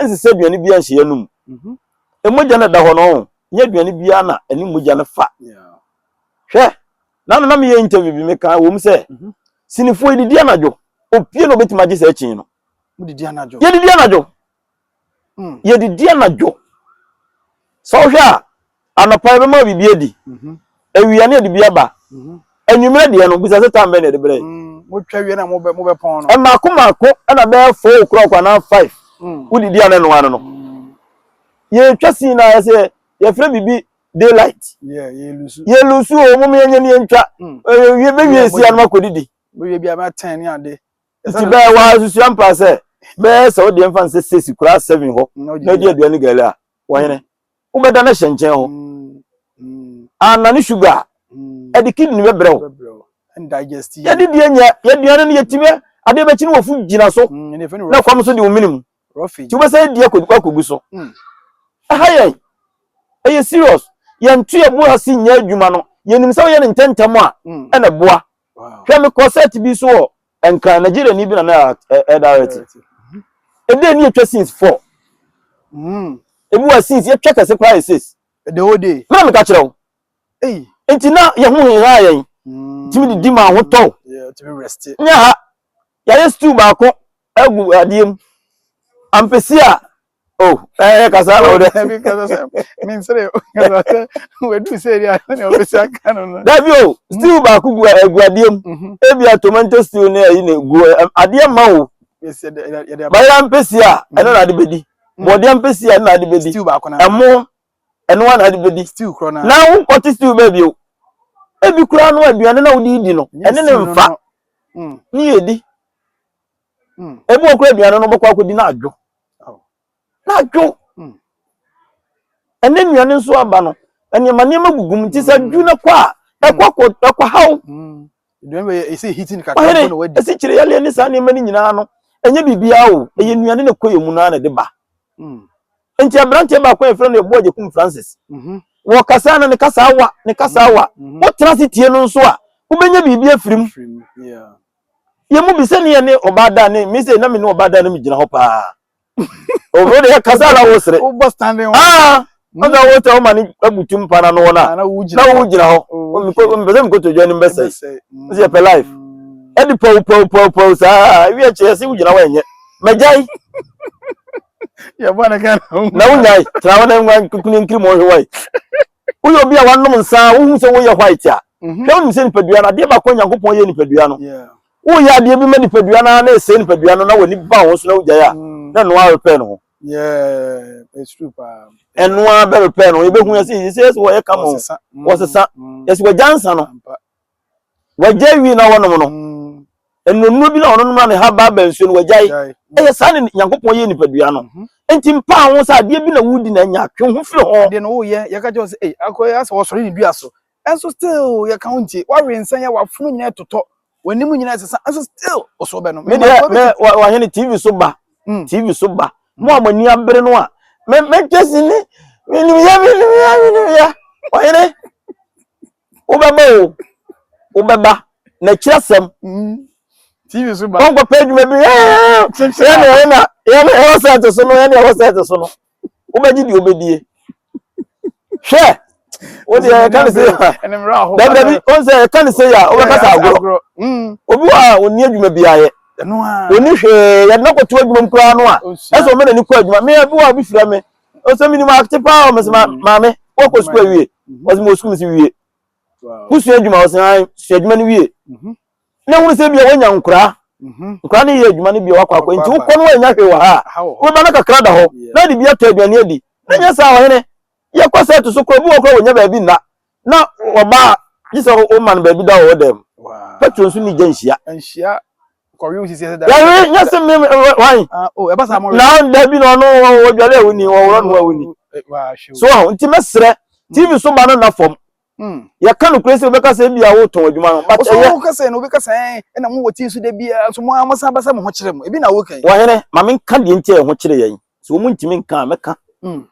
ɛnsesɛ aduane biara nhyɛ yɛn anom mhm. mogya no da hɔ no nyɛ aduane biara na ɛne mogya no fa hwɛ na no na meyɛ interview bi meka wɔ mu sɛ mhm. sinifoɔ yɛdidi anadwo opie na obɛtumi agye sɛ akyi no yɛdidi anadwo yɛdidi anadwo hmm. sɛ wohwɛ a Anɔpa yɛbɛma wo biribi adi. Awia ne yɛde bi aba. Anwummerɛ deɛ no, bisa sɛ tam bɛn na yɛde brɛ. Motwa wie na mobɛpɔn no. Mmaako mmaako na bɛyɛ four o'clock anaa five. Wodidi a na ɛnoa no no. Yɛtwa sii na ayɛ sɛ yɛfrɛ biribi daylight. Yɛlusu o, mom yɛnyɛ ne yɛntwa. Bɛwie si anoma kɔdidi. Bɛwie bi a bɛyɛ ten ne ade. Nti bɛyɛ wɔ ha susua mpaa sɛ bɛyɛ sɛ wodeɛ mfa nsɛ six koraa seven hɔ na di aduane gali a, wɔhene. wobɛda no ahyɛ nkyɛn hɔ anna ne sugar a ɛde kidney bɛbrɛ wo yɛde deɛ nyɛ yɛduane no yɛtumi adeɛ bɛkyi no wɔfo gyina so na kwam so de wo mene mu nti wobɛsɛ adi akɔgu so ɛha yɛn ɛyɛ serious yɛnto yɛbo ase nyɛ adwuma no yɛnim sɛ woyɛ no ntɛntɛm a ɛna boa hwɛ me kɔsɛt bi so wɔ nkran nigeria ni bi na na ɛdarɛte ɛdɛ ni atwa sins fɔ ebi wɔ sins yɛtwa kɛse koraa yɛ sis the whole day mena meka kyerɛ wo nti na yɛ ho hehaa yɛn tumi didi ma ho tɔw nyɛ ha yɛayɛ stew baako agu adeɛ mu ampesi a Oh, eh, kasa na ɔdɛ. Dabi kasa sɛ, mensere o, kasa sɛ, wadu sɛ ɛdi ano na ɔbɛsi aka no no. Dabi o, stew baako gu egu adeɛ mu. Mhm. Ebia tomato stew ne ayi na egu adeɛ ma o. Bayera mpesi a, mhm. ɛno na ade bɛdi. Mhm. Bɔdeɛ mpesi a, ɛno na ade bɛdi. Stew baako na. Ɛmo, ɛno na ade bɛdi. Stew korɔ na. Na wokɔte stew baabi o. Ebi koraa no aduane na wode di no, ɛne ne mfa. Mm. Ne yɛ di. ebi wɔ kura aduane no bɛkɔ akɔdi no adwo na adwo ɛne nnuane nso aba no nneɛma nneɛma gugu mu nti sɛ adwo no kɔ a ɛkɔ kɔ ɛkɔ haw ɔhene ɛsi kyerɛ yɛleɛ ne saa nneɛma no nyinaa no ɛnyɛ biribiara o ɛyɛ nnuane na ɛkɔ yɛ mu no ara na ɛde ba nti aberanteɛ baako a yɛfrɛ no ɛboɔ agyekum francis wɔ kasa no ne kasa awa ne kasa awa wotena se tie no nso a wobɛnya biribi afiri mu yɛn mu bi sɛ ne yɛn ne ɔbaa da ne mi sɛ na mi ne ɔbaa da no mi gyina hɔ paa ɔbɛrɛ yɛ kasa ala wɔ sere aa ɔna wɔ tɛ ɔma ne abutu mpa na no wɔ na na wo gyina hɔ mpɛ sɛ mikoto dwa ne mbɛ sɛ ɛsɛ pɛ life ɛde pɛw pɛw pɛw pɛw saa ewi ɛkyɛ yɛsɛ wo gyina hɔ ɛnyɛ mɛgyae na wo nyae tra hɔ na nwa nkukuni nkiri mu ɔhwɛ wɔe Woyɛ obi a wanom nsa a wohu sɛ woyɛ white a, mhm. hwɛ wonim sɛ nipadua no adeɛ baako Nyankopɔn yɛ nipadua no. Woyɛ adeɛ bi ma nipadua no na ɛsɛe nipadua no na w'ani ba ho so na wogyae a mm. na ɛno ara repɛ no ho. Ɛno ara bɛrepɛ no yɛbɛhu yɛ sɛ yɛsɛ yɛsɛ wɔyɛ kama wɔsesa mm. yɛsɛ wɔagya nsa no Wagyae wi na wɔnom no. Nnuannuro bi na wɔnom na ne haba aba nsuo no, wagyae. Ɛyɛ saa ne Nyankopɔn yɛ nipadua no. Enti mpaa ho sɛ adeɛ bi na wodi na anya, twe ho firi ho. Adeɛ no woyɛ, yɛka kyerɛ wo sɛ, ei, akɔ yɛ asɛ wɔsɔre ne dua so. Ɛnso still yɛka wo ntie. Wawe nsa yɛ, wafono nyinaa totɔ, w'anim nyinaa ɛsesa, ɛnso still wo so bɛnom. Me deɛ, me, wahene TV so ba, hmm. TV so ba. Mo a mo ani abere no a, me, me kyɛ si ne, me nim yɛ, me nim yɛ, me nim yɛ. Wahene, Wobɛba o, wobɛba. Na kyerɛ asɛm. Mm. TV so ba. Wɔn kɔpɛ adwuma bi. Yɛn na yɛn na yɛn na ɛwɔ sɛɛte so no, yɛn na ɛwɔ sɛɛte so no. Wobɛgye deɛ wobɛdie. Hwɛ. O deɛ ɛka ne se yɛ. Dabi dabi, o nsɛ ɛka ne se yɛ a, wobɛkasa agorɔ. Mm. Obi wɔ a, onni adwuma bi ayɛ. Onni hwee, yɛde no akɔto adwuma mu koraa no a. Ɛsɛ wɔn na ni kɔ adwuma. Mmea bi wɔ a, obi fira me. ɔsɛ menim ate paa ɔmɛsɛ maame wɔkɔ sukuu awie ɔsɛ mewɔ sukuu mese wie wosua adwuma ɔsɛ han sua adwuma no wie na hunu sɛ bia woanya nkoraa nkoraa no yɛ adwuma no bia wakɔ akɔ nti wokɔ no woanya hwee wɔ ha a wobɛba no kakra da hɔ na de bi atɔ aduane adi na nyɛ saa ɔhene yɛkɔ sɛ to so korɔ bi wɔ korɔ wɔnya baabi nna Na ɔbaa gye sɛ woma no baabi da wɔ wo dan mu. Petro nso ne gya nhyia. Nhyia kɔwe sisi ɛsɛ da. Yɛwe nyɛ se me wan. Ah oh ɛba saa mo. Na da bi na ɔno ɔdwale a woni ɔworɔ no a woni. So ho nti mɛsrɛ TV so ba no na fam. Yɛka no kure sɛ wobɛka sɛ ebia wotɔn adwuma no but ɛyɛ. Ɔsɔ wokasa no wobɛka sɛ ɛna mo wɔ TV so da bi a so mo a mo san basa mo ho kyerɛ mo ebi na woka yi. Wɔhene ma menka deɛ nti a ɛho kyerɛ yɛn. So wɔn ntumi nka a mɛka. Mm.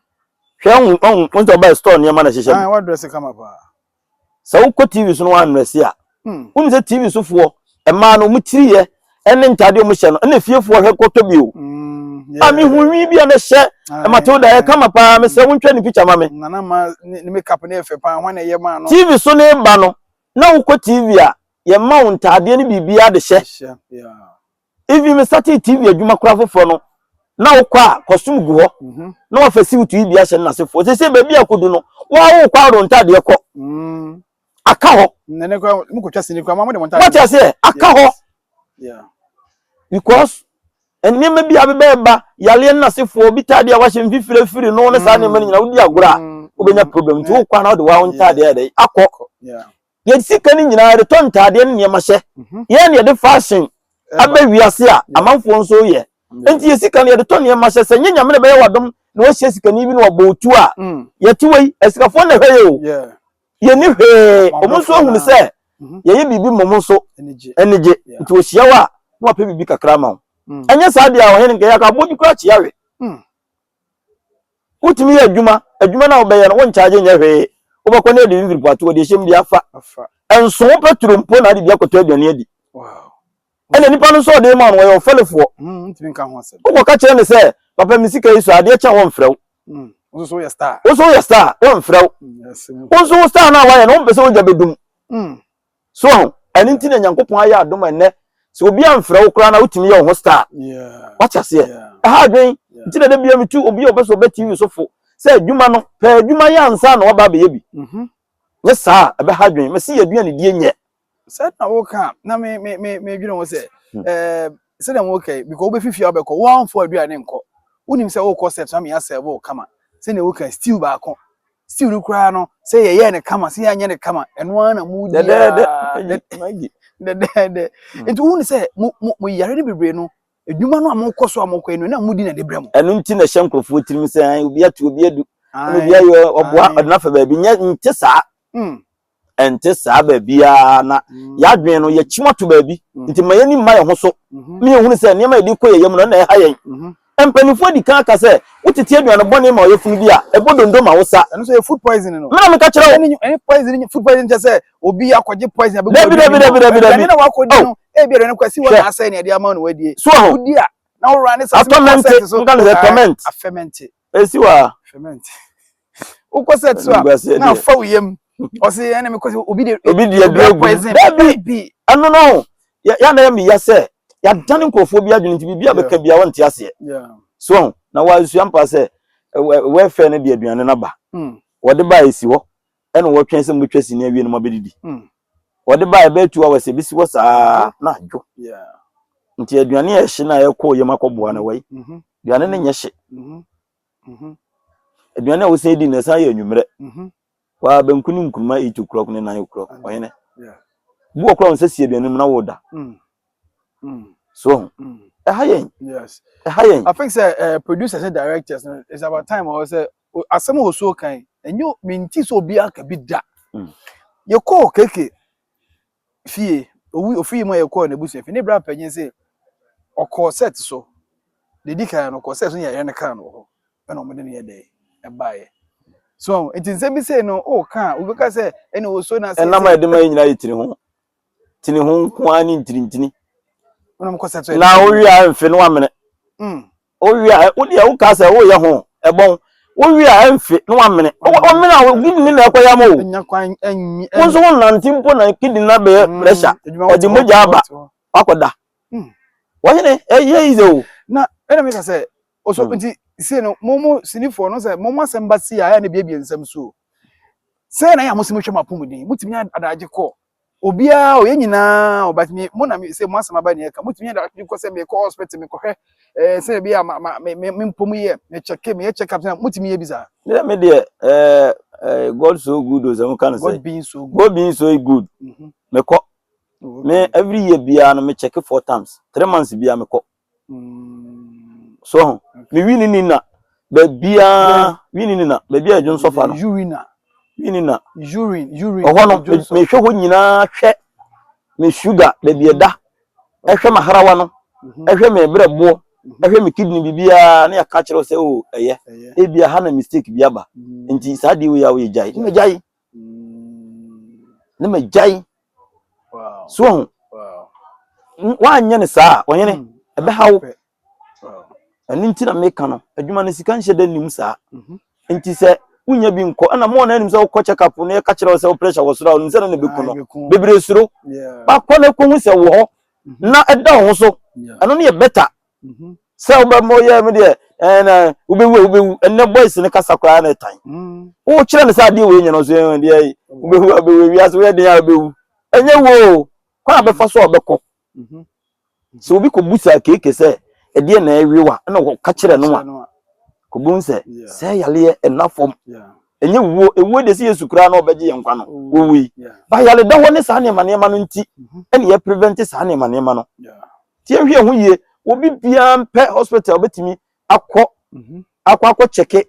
Hwɛ ɔhun ɔhun wɔn sɛ ɔbaa store nneɛma na ɛhyehyɛ mu. Ayi wadrɛse kama paa. Sɛ wokɔ TV so na wandrɛse a. Mm. Wɔn sɛ TV sofoɔ mmaa no wɔn tiri yɛ ɛne ntaadeɛ wɔn hyɛ no ɛna efiefoɔ hwɛ kɔtɔ bi o. Mm, a mi hu nwi bi a na ɛhyɛ Matilda yɛ kama paa mi sɛ wɔn twɛ ne picture ma mi. Nana ma ne ne makeup ne yɛ fɛ paa wɔn na ɛyɛ maa no. TV so ne ba no na wokɔ TV a yɛ ma wɔn ntaadeɛ ne biribiara de hyɛ. Even me starting TV adwuma koraa foforɔ no, na wokɔ a costume gu hɔ mhm. na wafa siwutu yi bi ahyɛ no n'asefoɔ sɛ sɛ baabi a kɔdu no waa wokɔ aworo ntadeɛ kɔ mm. aka hɔ wate aseɛ aka hɔ because nneɛma bi a bɛbɛɛba yareɛ no n'asefoɔ bi tadeɛ a wahyɛ mfifire firi no ne saa nneɛma no nyina wodi agorɔ a mm. wobɛnya problem nti wokɔ a na wode waa wo ntadeɛ akɔ Yɛde sika no nyinaa yɛde tɔ ntaadeɛ ne nneɛma hyɛ. Yɛn na yɛde fashion aba wiase a amanfoɔ nso reyɛ. Nti yɛ sika no yɛde tɔ nneɛma hyɛ. Sɛ nyɛ Nyame na ɛbɛyɛ w'adom na wahyia sikani bi na wabɔ wo tuo a, yɛte hɔ yi, asikafoɔ na ɛhwɛ yɛ o. Yɛnni hwee. Wɔn nso ahunu sɛ yɛyɛ biribi ma wɔn nso ani gye. Nti wɔhyia wo a, na wapɛ biribi kakra ama wo. Ɛnyɛ saa deɛ a, Ɔhene, nka yɛaka abodwo koraa kyea we. Wotumi yɛ adwuma, adwuma no a wobɛyɛ no wonkyagye nyɛ hwee. Wobɛkɔ na adi ne mfiripoato, wɔde ahyɛm bi afa. Ɛnso wo petro mpo na wode bi akɔtɔ aduane adi. Ɛna nipa no nso a ɔde rema no wɔyɛ wo fɛlefoɔ. Wokɔka kyerɛ no sɛ, papa me sika yi sɔ a, adeɛ kyɛ a wɔmfrɛ wo. Wo nso woyɛ star a, wɔmfrɛ wo. Wo nso wo star no a woayɛ no wompɛ sɛ wogya bɛdum. So wahu? Ɛno nti na Nyankopɔn ayɛ adom a ɛnnɛ sɛ obi amfrɛ wo koraa na wotumi yɛ wo ho star. Wate aseɛ? Ɛha adwen nti na da bia metu obi a ɔpɛ sɛ ɔbɛ TV so fo sɛ adwuma no pɛ adwuma yɛ ansa na waba abɛyɛ bi. Mhm. Nyɛ saa a ɛbɛha adwen. Mese yɛ aduane die nyɛ. Sɛ na woka na me me me medwene ho sɛ hmm. eh sɛ na woka yi because wobɛfifi a wobɛkɔ woamfo aduane nkɔ wonim sɛ wokɔ sɛ tena meyɛ sɛ wo kama sɛ na woka still baako stew no koraa no sɛ yɛyɛɛ no kama sɛ yɛanyɛ no kama ɛno ara na mu dɛdɛɛdɛ dɛdɛɛdɛ hmm. nti wohu ne sɛ mo yare no bebree no adwuma no a mokɔ so a mokɔ no na modi na de brɛ mo ɛno nti na ɛhyɛ nkurɔfoɔ tirim sɛ obi atu obi adu obi ayɛ ɔboa ɔde no afa baabi nyɛ nte saa hmm. ɛnte saa baabiara na yɛadwene no yɛkyim ato baabi nti ma yɛni mma yɛn ho so ma yɛhunu sɛ nneɛma yɛde kɔ yɛyɛ mu no na ɛha yɛn mpanimfoɔ adi kan aka sɛ wotete aduane bɔne ma ɔyɛfunu bi a ɛbɔ dondo ma wo sa ɛno sɛ yɛ food poison no mena meka kyerɛ wo ɛne poison food poison kyɛ sɛ obi akɔgye poison abɛgu dabi dabi dabi dabi dabi na wakɔdi oh. no ebi aduane kwasi wɔ na asɛe ne ɛde ama no wadie so wodi a na wowura ne sase mu asɛte so nka no sɛ ferment afɛmɛnte Esi hɔ a. Ferment. Wokɔ sɛ to a na afa wo yam. Ɔsi ɛna mi kɔ sɛ obi de obi de aduro egu. Dabi ɛno no yɛ yɛ anayɛ mi ya sɛ yɛadane nkurɔfoɔ bi adwene nti biribi a bɛka bia wɔnte aseɛ so ho na wɔasua mpa sɛ wɛfɛ no de aduane no aba hmm. wɔde ba ɛsi hɔ Ɛna wɔtwɛn sɛ mobɛtwa sini awie no mabɛdidi hmm. wɔde baa ɛbɛyɛ two hours ɛbɛsi hɔ saa na adwo nti aduane a ɛhye no a ɛkɔɔ yam akɔboa no wai mhm. aduane no nyɛ hye mhm. Mhm. aduane a wosan di no ɛsan yɛ anwummerɛ waa banku ne nkuruma eight o'clock ne nine o'clock ɔhene bu ɔkora wo sɛ si aduane mu na woda mm. mm. so mm. ɛha yɛn ɛha yɛn i think sɛ uh, producers ne directors no it's about time ɔwɔ sɛ asɛm a osuo kan ɛnyɛ menti sɛ obi aka bi da mm. yɛkɔɔ keke fie owi ofie mu a yɛkɔɔ n'abusua fie ne bra panyin sɛ ɔkɔɔ set so dedi kan no ɔkɔɔ set so yɛyɛ no kaa no wɔ hɔ ɛna ɔmo de no yɛ dɛ ɛbaeɛ so nti nsɛm bi sei no o kaa obi ka sɛ ɛna osuo na asɛ ɛnam a yɛde ma yɛ nyinaa yɛ tiri ho tiri ho nko ara ne ntirintini na wowie a mfe no amene mm. Wowie a, wo deɛ wokaa sɛ woyɛ ho ɛbɔn. Wowie a ɛmfe na wamene. Womene a kidini na ɛkɔ yam o. Wo nso wonante mpo na kidini no abɛyɛ mm, pressure. Ɔde mogya aba wakɔda. Hmm. Wɔhene ɛyɛ yize o. Na ɛna meka sɛ ɔso hmm. nti sei no mo mo sinifoɔ no sɛ mo mo asɛm ba si a ɛyɛ na ebiebie nsɛm so. Sɛ na yɛ a mo si mo hwɛ mo apɔmuden mo tumi nya adagye kɔ. obiara o yɛn nyinaa o but me mo na me sɛ mo asɛm aba ne ɛka motumi yɛ daakye kɔ sɛ mekɔ hospital mekɔhwɛ ɛɛ sɛ ebi a ma ma me me me mpɔ mu yɛ me check me yɛ check up sɛ motumi yɛ bi saa me me deɛ ɛɛ ɛɛ god so good o sɛ mo ka no sɛ god being so good god being so good mm -hmm. mekɔ oh, okay. me every year biara no me check four times three months biara mekɔ So ho. Me wini ni na. Bebia wini ni na. Bebia edwon so fa no. Urina. Wini na. Urine, urine. Oho no me hwe ho nyina hwe me sugar da bi eda. E hwe maharawa no. E hwe me brebo. E hwe me kidney bibia na ya ka kire se o eye. E bia ha na mistake bi aba. Nti sa de wo ya wo ye jai. Me jai. ne magyae so ho woanyɛ no saa a ɔhene mm. ɛbɛha wo ɛno nti na meka no adwuma no sika nhyɛ da nnim saa mhm. nti sɛ wonya bi nkɔ ɛna mo na anim sɛ wokɔ check up na yɛka kyerɛ wo sɛ wo pressure wɔ soro a ɔnim sɛ no na bɛku no bebree suro bakɔ no ɛkɔhu sɛ wɔ hɔ mhm. na ɛda wo ho so ɛno no yɛ better Mhm. sɛ wobɛma ɔyɛ me deɛ ɛɛ na wobɛwu a wobɛwu ɛnɛ boys no kasa koraa na ɛtan Mm. wokyerɛ no sɛ adeɛ wei nyɛ no so ɛɛ deɛ yi, wobɛwu a wobɛwu wiase woyɛ den a wobɛwu ɛnyɛ wo o kwan a bɛfa so a ɔbɛkɔ Mhm. sɛ obi kɔbu saa keeke sɛ ɛdeɛ na ɛwe wa ɛna wɔka kyerɛ no a Kyerɛ no a, kɔbɛhu sɛ Yeah. sɛ yareɛ ɛna fam yeah. ɛnyɛ wuo ewuo deɛ sɛ yesu koraa na ɔbɛgye yɛn nkwa no Owu. wɔwui Yeah. ba yareda hɔ ne saa nneɛma nneɛma no nti Mhm. ɛne yɛ prevent saa nneɛma nneɛma no Yeah. Tie hwɛ ho yie obi biara mpɛ hospital bɛtumi akɔ mhm. akɔ akɔ kyɛke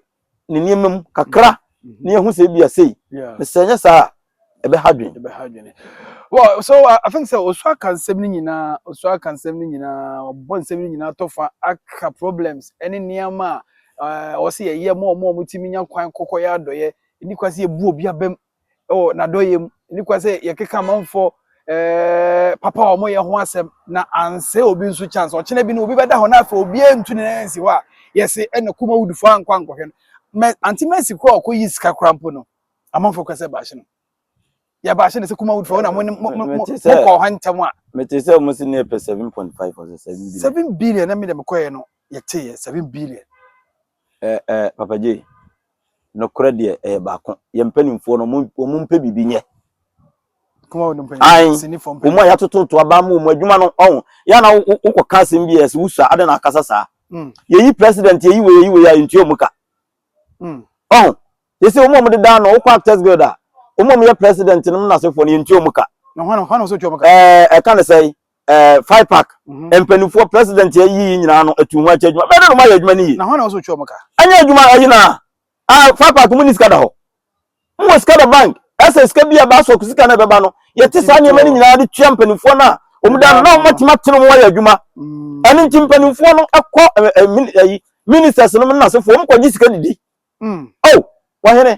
ne nneɛma mu kakra mhm. mhm. na yɛhu sɛ ebi asei na sɛ ɛnyɛ saa a ɛbɛha dwen ɛbɛha dwen well so uh, i think sɛ osu aka nsɛm no nyinaa osu aka nsɛm no nyinaa ɔbɔ nsɛm no nyinaa tɔfa aka problems ɛne nneɛma a uh, ɔsɛ yɛyɛ mo ɔmo ɔmo tumi nya kwan kɔkɔ yɛ adɔyɛ ɛni kwan sɛ yɛbu obi abam wɔ n'adɔeɛ mu. Ɛni kwan sɛ yɛkeka amanfoɔ ɛɛ papa a wɔyɛ ho asɛm na ansɛ obi nso chance. Ɔkyena bi no obi bɛda hɔ na afei obiara ntu ne nan nsi hɔ a yɛse ɛna kuma wudufoɔ ankɔ ankɔhwɛ no. Mɛ ante mɛsi kora ɔkɔ yi sika kora mpo no amanfoɔ kora sɛ baahye no. Yɛ baahye no sɛ kuma wudufoɔ wo na mo mo mo mo kɔ hɔ ntɛm a. Mete sɛ wɔn si ne pɛ seven point five ɔsɛ seven billion. Seven billion na mi de me kɔɛ no yɛte yɛ seven billion. Ɛ ɛ Papa Jay, nokorɛ deɛ ɛyɛ baako. Yɛn mpanimfoɔ no, wɔn wɔn mpɛ biribi nyɛ. Kuma wɔn mpɛ Ae, biribi sini fam wɔn a pɛpɛɛpɛ. yɛatototo aba ama wɔn adwuma no, ɔho. Yɛ na wo- wo- wokɔka asɛm bi a ɛsɛ wosua, adɛn na akasa saa? Mm, Yɛyi president, yɛyi wei, yɛyi wei a, yɛntua wɔn ka. mm, Ɔho. Yɛsɛ wɔn a wɔdeda ano, wokɔ Actors Guild a, wɔn a wɔyɛ president nom n'asefoɔ no, yɛntua wɔn ka. Na hwan na hwan na wɔsɛ wɔtua wɔn ka? Ɛɛ, ɛka ne sɛe? ɛɛ fipac mhm. mpanimfoɔ president yɛ yiyi nyinaa no etu ho akyɛ adwuma bɛn na wɔn ayɛ adwuma no yie. na hɔn na wɔn so twɛ wɔn ka. ɛnyɛ adwuma ɛyi na ɛɛ fipac mu ni sika da hɔ mu wɔ sika da bank ɛsɛ sika bi a ɛbaa sɔk sika na ɛbɛba no yɛte saa nneɛma no nyinaa de tua mpanimfoɔ no a wɔn da no na wɔn atuma tene wɔn ayɛ adwuma mm. ɛno nti mpanimfoɔ no ɛkɔ ɛɛ ɛyi ministers no mu nasefoɔ wɔn kɔ gye sika didi. Mm. o oh, wɔhene.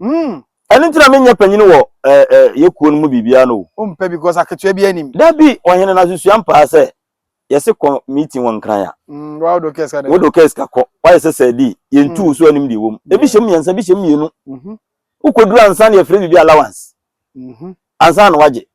Umm ɛno nti na me nyɛ panyini wɔ eh eh yɛ kuo no mu biribiara no o. Wo mpɛ bi cos aketewa biara nnim. Dabi ɔhene na susua mpaa sɛ yɛse kɔ meeting wɔ nkran a. Umm wa wode wo case ka dɛn. Wode wo case ka kɔ wayɛ sɛ sɛɛdii yɛntu wo so anim deɛ ɛwɔ mu ebi hyɛ mu mmiɛnsa ebi hyɛ mu mmienu wo kɔduru ansa na yɛfrɛ biribi allowance ansa na wagye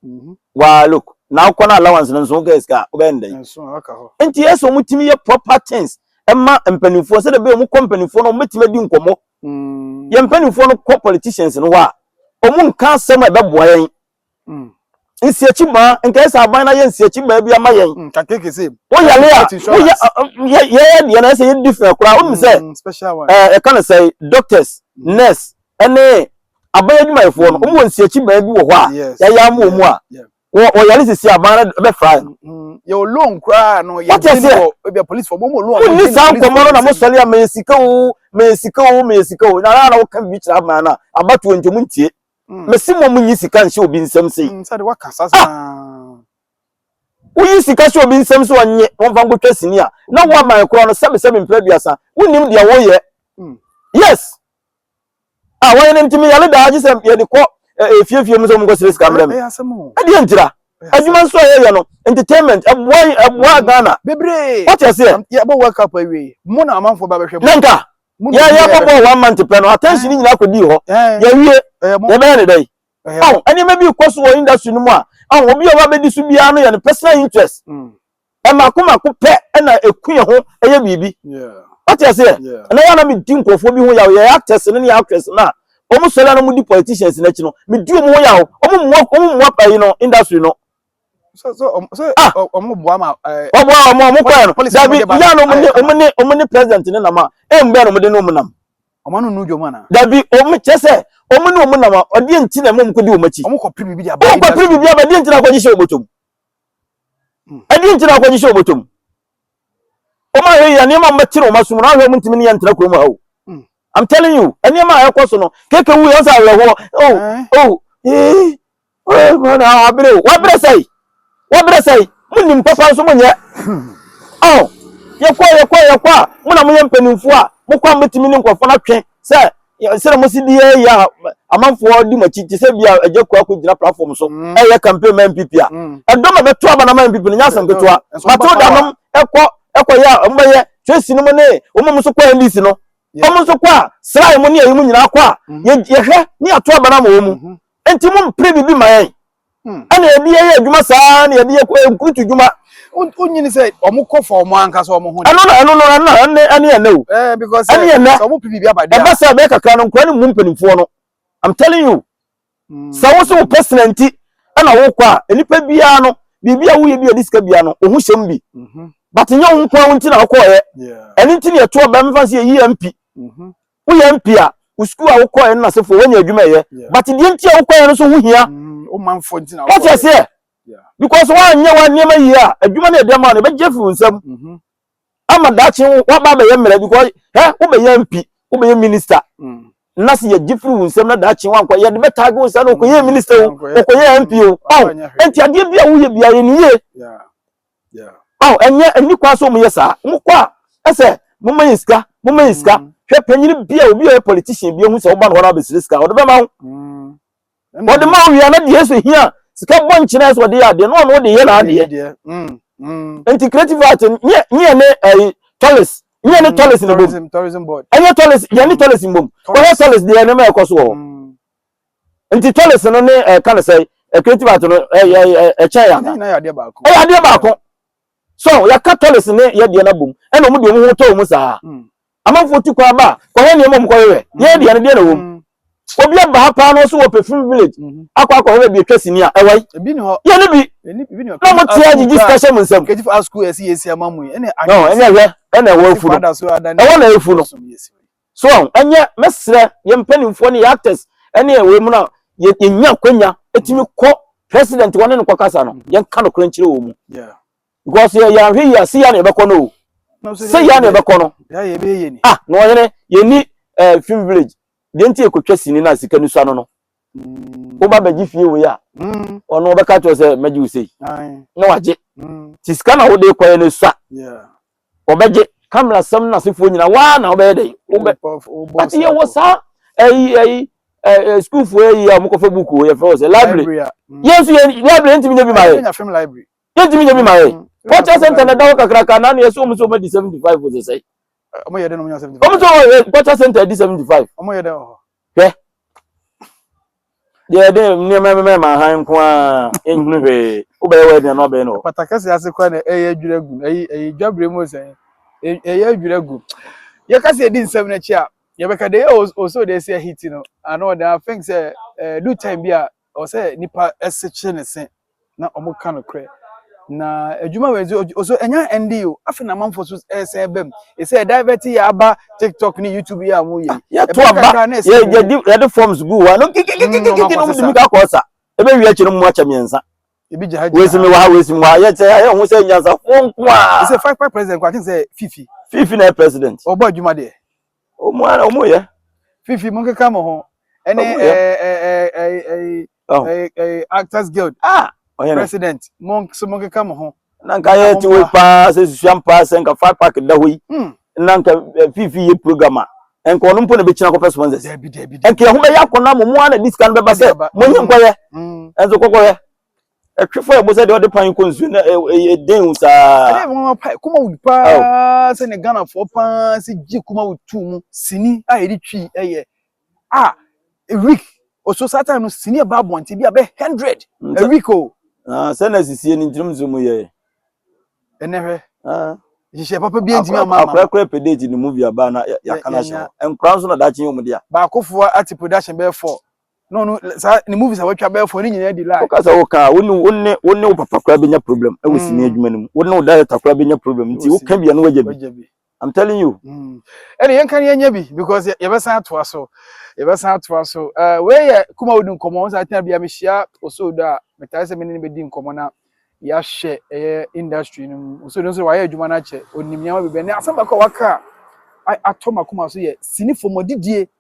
waa look na wokɔ na allowance no nso wokɛ sika a wobɛyɛ no dɛn nti ɛsɛ wɔn tumi yɛ proper things ɛma mpanimfoɔ sɛdeɛ bɛyɛ wɔn kɔ mpanimfoɔ no wɔn bɛtumi adi nkɔmɔ mm. yɛn mpanimfoɔ no kɔ politicians no hɔ a wɔn nka asɛm a ɛbɛboa yɛn mm. nsiakyi maa nka ɛsɛ aban na yɛ nsiakyi maa bi ama yɛn mm, woyale a woyɛ yɛyɛ deɛ na ɛsɛ yɛ different koraa wɔn mu sɛ ɛɛ ɛka ne sɛ doctors nurse ɛne aban adwumayɛfoɔ no wɔn wɔ nsiakyi baa bi wɔ hɔ a yɛayɛ ama wɔn a wɔyare sisi aban no bɛfra no. yɛ o loan koraa no yɛ bi wɔ ebi apolisifoɔ wɔn wɔ loan. wonni saa nkɔmɔ no na mo sɔre a meyɛ sika o meyɛ sika o meyɛ sika o na ara na wɔka bi kyerɛ aban no a abatoɔ nti wɔn ntie mesi mo mo nyi sika nhyɛ obi nsam sei. nsɛde waka saa saa. woyi sika hyɛ obi nsam so ɔnye wɔn fa nkotwa sini a na wɔn aban korɔ no sɛbisɛbi mpere aduasa wonim deɛ wɔyɛ yes. a wɔn no ntumi yare daa gye sɛ yɛde kɔ efiefie mu sɛ wɔnkɔ sere sika mmerɛ me ɛdeɛ ntira adwuma nso a yɛyɛ no entertainment ɛboa yi ɛboa Ghana bebree wɔte aseɛ yɛbɔ world cup awie mo na amanfoɔ ba bɛhwɛ mo nanka yɛyɛ bɔbɔ wɔn mante pɛ no attention nyinaa kɔdii hɔ yɛwie yɛbɛyɛ ne dɛ yi nneɛma bi kɔ so wɔ industry no mu a obi a wabɛdi so biara no yɛ no personal interest mm. Mmaako mmaako pɛ na ɛku yɛn ho yɛ biribi. Wote aseɛ? Ɛnɛ yɛ na medi nkurɔfoɔ bi ho yaw, yɛyɛ actors no ne yɛ actress no a, wɔn sɔre a na wɔdi politicians no akyi no, medi wɔn ho yaw. Wɔn mmoa wɔn mmoa ɛyi no industry no. So so um, so ah, wɔn mmoa ma ɛɛ. Wɔn mmoa wɔn wɔn kɔɛ no. Dabi yɛ no wɔn ne wɔn ne wɔn ne president ne nam a, ɛmu bɛn na wɔn de ne wɔn nam. Wɔn ano nu dwom ana. Dabi wɔn kyɛ sɛ wɔn ne wɔn nam a, ɔdeɛ nti na ɛmu wɔn kɔ di wɔn akyi. Wɔn kɔ piri biribi aba. Wɔn kɔ piri biribi aba, deɛ nti na akɔgye hyɛ wɔn bɔtɔ mu. ɛdeɛ nti na akɔgye sɛ ɔbɔtɔ mu wɔn ahwɛ yɛ nneɛma a wɔbɛte no wɔn asom no ahwɛ wɔn ntumi ne yɛn ntra kurom ha o hmm. i'm telling you nneɛma a ɛkɔ so no keke wu yɛn sɛ awerɛhoɔ oh oh ee ee mwana abere o wabere sɛyi wabere sɛyi mo nim papa nso mo nyɛ oh yɛkɔ yɛkɔ yɛkɔ a mo na mo yɛ mpanimfoɔ a mo kɔ a mo betumi ne nkɔfoɔ no atwe sɛ sɛdeɛ mosi di yɛ yɛ a amanfoɔ di mo akyi te sɛ bi a agya kua kɔ gyina platform so mm. ɛyɛ campaign ma npp a mm. ɛdɔm a bɛto aba na ma npp no nyɛ asɛm ketewa matilda nom ɛkɔ ɛkɔ yɛ a ɔmbɛyɛ tracy no mu ne ɔmo nso kɔ ndc no ɔmo nso kɔ a srae mu ne ɛyi mu nyinaa kɔ a mm-hmm. yɛhwɛ ne ato aba na ma wɔn mu mm-hmm. nti mo mpere bibi ma yɛn Hmm. ɛna yɛde yɛ yɛ adwuma saa na yɛde yɛ kɔ nkurutu dwuma. o nyini sɛ ɔmo kɔ fa ɔmo ankasa ɔmo ho. ɛno na ɛno no ɛna ɛne ɛne ɛnɛ o. ɛɛ because ɛne ɛnɛ sɛ ɔmo pipi bi abadi a. ɛbɛ sɛ ɛbɛ kakra no nkura ne mu mpanimfoɔ no i'm telling you. Hmm. sɛ wosi wo pɛsina nti ɛna wokɔ a nipa biara no biribi a woyɛ bi a ɛde sika biara no ohun hyɛm bi. Mhm. but nyɛ wo nko a wo nti na akɔɔyɛ. ɛne nti na yɛto ɔbɛn mfa se yɛ yi yɛ mpi. Mhm. Woyɛ mp a, wo sukuu a wokɔɔɛ no na asefoɔ wanya adwuma ɛyɛ but deɛ nti a wokɔɔɛ no so ho hia wate aseɛ because woanyɛ wo nneɛma yie a adwuma no a ɛde ama no ɛbɛgye afiri wo nsam ama daakye woaba abɛyɛ mmerɛ because hɛ wobɛyɛ mp wobɛyɛ minister na se yɛgye firi wo nsam na daakye woankɔ yɛde bɛtaage wo saa na wokɔyɛ minister o wokɔyɛ mp o ɔn ɛnti adeɛ bi a woyɛ biara yɛ ne yie Yeah. Oh, ɛnyɛ ɛni kwan so wɔn yɛ saa. Wɔn kɔ a ɛsɛ mo ma yɛn sika, mo ma yɛn sika. Hwɛ panyin bi a obi a ɔyɛ politician bi ehu sɛ ɔba no hɔ na ɔbɛsrɛ sika, ɔde bɛma wo. Ɔde ma wo wia na deɛ ɛsɛ hia sika bɔ nkyɛn ɛsɛ ɔde yɛ adeɛ na ɔno ɔde yɛ n'adeɛ. Nti creative art nyɛ nyɛ ne ɛyi tɔlis nyɛ ne tɔlis ne bom. Ɛnyɛ tɔlis yɛ ne tɔlis bom. Wɔyɛ tɔlis deɛ ɛnɛma ɛkɔ so wɔ hɔ. Nti tɔlese no ne ɛka no sɛ creative art no ɛkyɛn yɛ anaa? Ɛyɛ adeɛ baako. So yɛaka tɔlese ne yɛ deɛ no abom ɛna ɔmo de ɔmo ho tɔ ɔmo saa. Hmm. Amanfoɔ tu kwan ba a kɔhwɛ nneɛma ɔmo kɔhwehwɛ. Hmm. Yɛ deɛ no deɛ na wɔm. Hmm. Obi aba ha paa na ɔso wɔ perfume village mhm. akɔ akɔhwɛ baabi atwa sini a ɛwɔ yi. Ebi ni hɔ. Yɛ ne bi. Na mo tia gyigyi sika hyɛ mo nsam. Kejifu asukuu ɛsi yɛ esi ama mu yi. Ɛna ɛhwɛ ɛna ɛwɔ efu no. Ɛwɔ na efu no. So wahu? Ɛnyɛ, mɛsrɛ yɛn mpanimfoɔ ne yɛn actors ne yɛn wei mu no a, yɛ- yɛnya akwanya tumi kɔ president hɔ ne no kɔkasa no, yɛnka nokorɛ nkyerɛ wɔ mu. Yeah. Because yɛ yɛanhwɛ yie a, se yɛ a na yɛbɛkɔ no o. Nam sɛ Se yɛ a na deɛ- yɛbɛkɔ no. deɛ yɛ bɛyɛ yɛ ni. Ah, na ɔhene, yɛnni eh, film village. Deɛ nti yɛkɔtwa sini no a sika no sua no no. Mm, Woba bɛgye fie wei a, mm, ɔno ɔbɛka kyerɛ wo sɛ mɛgye wo sei. ae, Na wagye. mm, Nti sika na wode kɔɛ no sua. yeah. wɔbɛgye camera sɛm no asefoɔ nyina waa na wobɛyɛ dɛ wobɛ but yɛwɔ saa ɛyi ɛyi ɛɛ sukuufoɔ ɛyi a wɔkɔfa buku o yɛfrɛ wɔ sɛ library yɛn nso yɛn library yɛntumi nya bi ma yɛ yɛntumi nya bi ma yɛ culture center na ɛda hɔ kakraka na ano yɛ sɛ wɔn nso wɔn adi seventy five wɔn sɛ sɛ wɔn nso wɔn culture center adi seventy five Hwɛ! Deɛ ɛde nneɛma mmɛma ma hann nko ara, ɛnhunu hwee. Wobɛyɛ w'ade na ɔbɛyɛ no. Apata kɛseɛ ase koraa na ɛyɛ adwiri agu no. Ɛyi ɛyi dwabere mu sɛn? Ɛyɛ adwiri agu. Yɛka sɛ yɛdi nsɛm no akyi a, yɛbɛka deɛ ɛyɛ o so deɛ ɛsɛ yɛhiti no. Ano deɛ I think sɛ ɛdu time bi a Ɛwɔ sɛ nnipa sekyere ne se na wɔka nokorɛ. Na adwuma wei nso ɔso ɛnyɛ ɛnde o afei na amanfoɔ so ɛsɛn ɛba mu ɛsɛ divert yɛ aba tiktok ne youtube yɛ a wɔn yɛ yɛto aba yɛdi yɛde forms gu wa no kikikikikiki na wɔn de mu kakɔ ɔsa ebe wi akyi no mu akyɛ mmiɛnsa ebi gya ha gya wesi mi wa ha wesi mi wa ha yɛ sɛ ayɛ ho sɛ nyansa fo nko a ɛsɛ five five president kɔ akyɛn sɛ fifi fifi na yɛ president ɔbɔ adwuma deɛ. Wɔn ara wɔn yɛ. Fifi mo nkeka mo ho. Ɛne ɛɛ actors guild. Ah ɔyɛ no. President mo nso mo nkeka mo ho. Na nka yɛ ti wɔ yi paa sɛ susuam paa sɛ nka five pack da hɔ yi. Hmm. Na nka eh, fifi yɛ program a nka ɔno mpo na bɛkyina kɔpɛ sponsors nka ɛho bɛyɛ akɔnɔ mo mo a na disika no bɛba sɛ monyi nkɔyɛ ɛnso kɔkɔyɛ ɛtwe fa ɛbɔ sɛ deɛ ɔde pan kɔ nsuo na ɛyɛ den wo saa. ɛdɛ wɔn apa kuma wo paa sɛ ne ghanafoɔ paa sɛ gye kuma wo tu mu sini a yɛde twi ɛyɛ a a week ɔso saa time no sini ɛba abɔnten bi abɛ hundred a week o. sɛ na asisie no ntinom nso mu yɛ. ɛnɛ hwɛ. hyehyɛ papa bi ntumi ama ama. akorakora pɛ date ne movie aba na yɛaka no ahyɛ hɔ nkora nso na daakye yɛ ɔmo dea. baakofoɔ ate production bɛyɛ four. No no saa ne movies a watwa bɛyɛ fo ne nyinaa di lie. Woka sɛ woka a wone wone wone wo papa koraa bɛnya problem ɛwɔ mm. sini adwuma no mu wone wo director koraa bɛnya problem nti woka bia no wagya bi I'm telling you. Mm. ɛne yɛnka ne yɛnyɛ bi because yɛbɛsan atoa so yɛbɛsan atoa so eh, wei yɛ kuma wodi nkɔmmɔ wo sɛ atena bia mehyia osoodo a metae sɛ mene ne bɛdi nkɔmmɔ na yɛahyɛ ɛyɛ industry no mu osoodo nso wayɛ adwuma no akyɛ ɔnim nneɛma bibɛ ne asɛm baako a waka a atɔ makoma so yɛ sinifo mɔdidie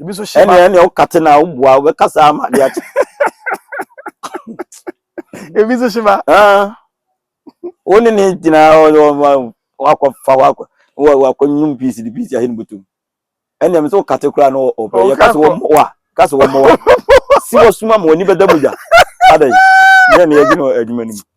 ebi nso hyɛ ɛnna ɛnna ɔkate na ɔboa ɔbɛka saa ama ade akye ebi nso hyɛ ba wɔn ne ne gyina wakɔfa wakɔ wakɔ nyum piisi de piisi ahyɛ ne butum ɛnna ɛmi nso ɔkate koraa na ɔpɛ yɛ kasi wɔn mɔwa kasi wɔn mɔwa si wɔ suma ma wɔn ni bɛ da mu gya ada yi ne yɛ ne yɛ gyina adwuma no mu.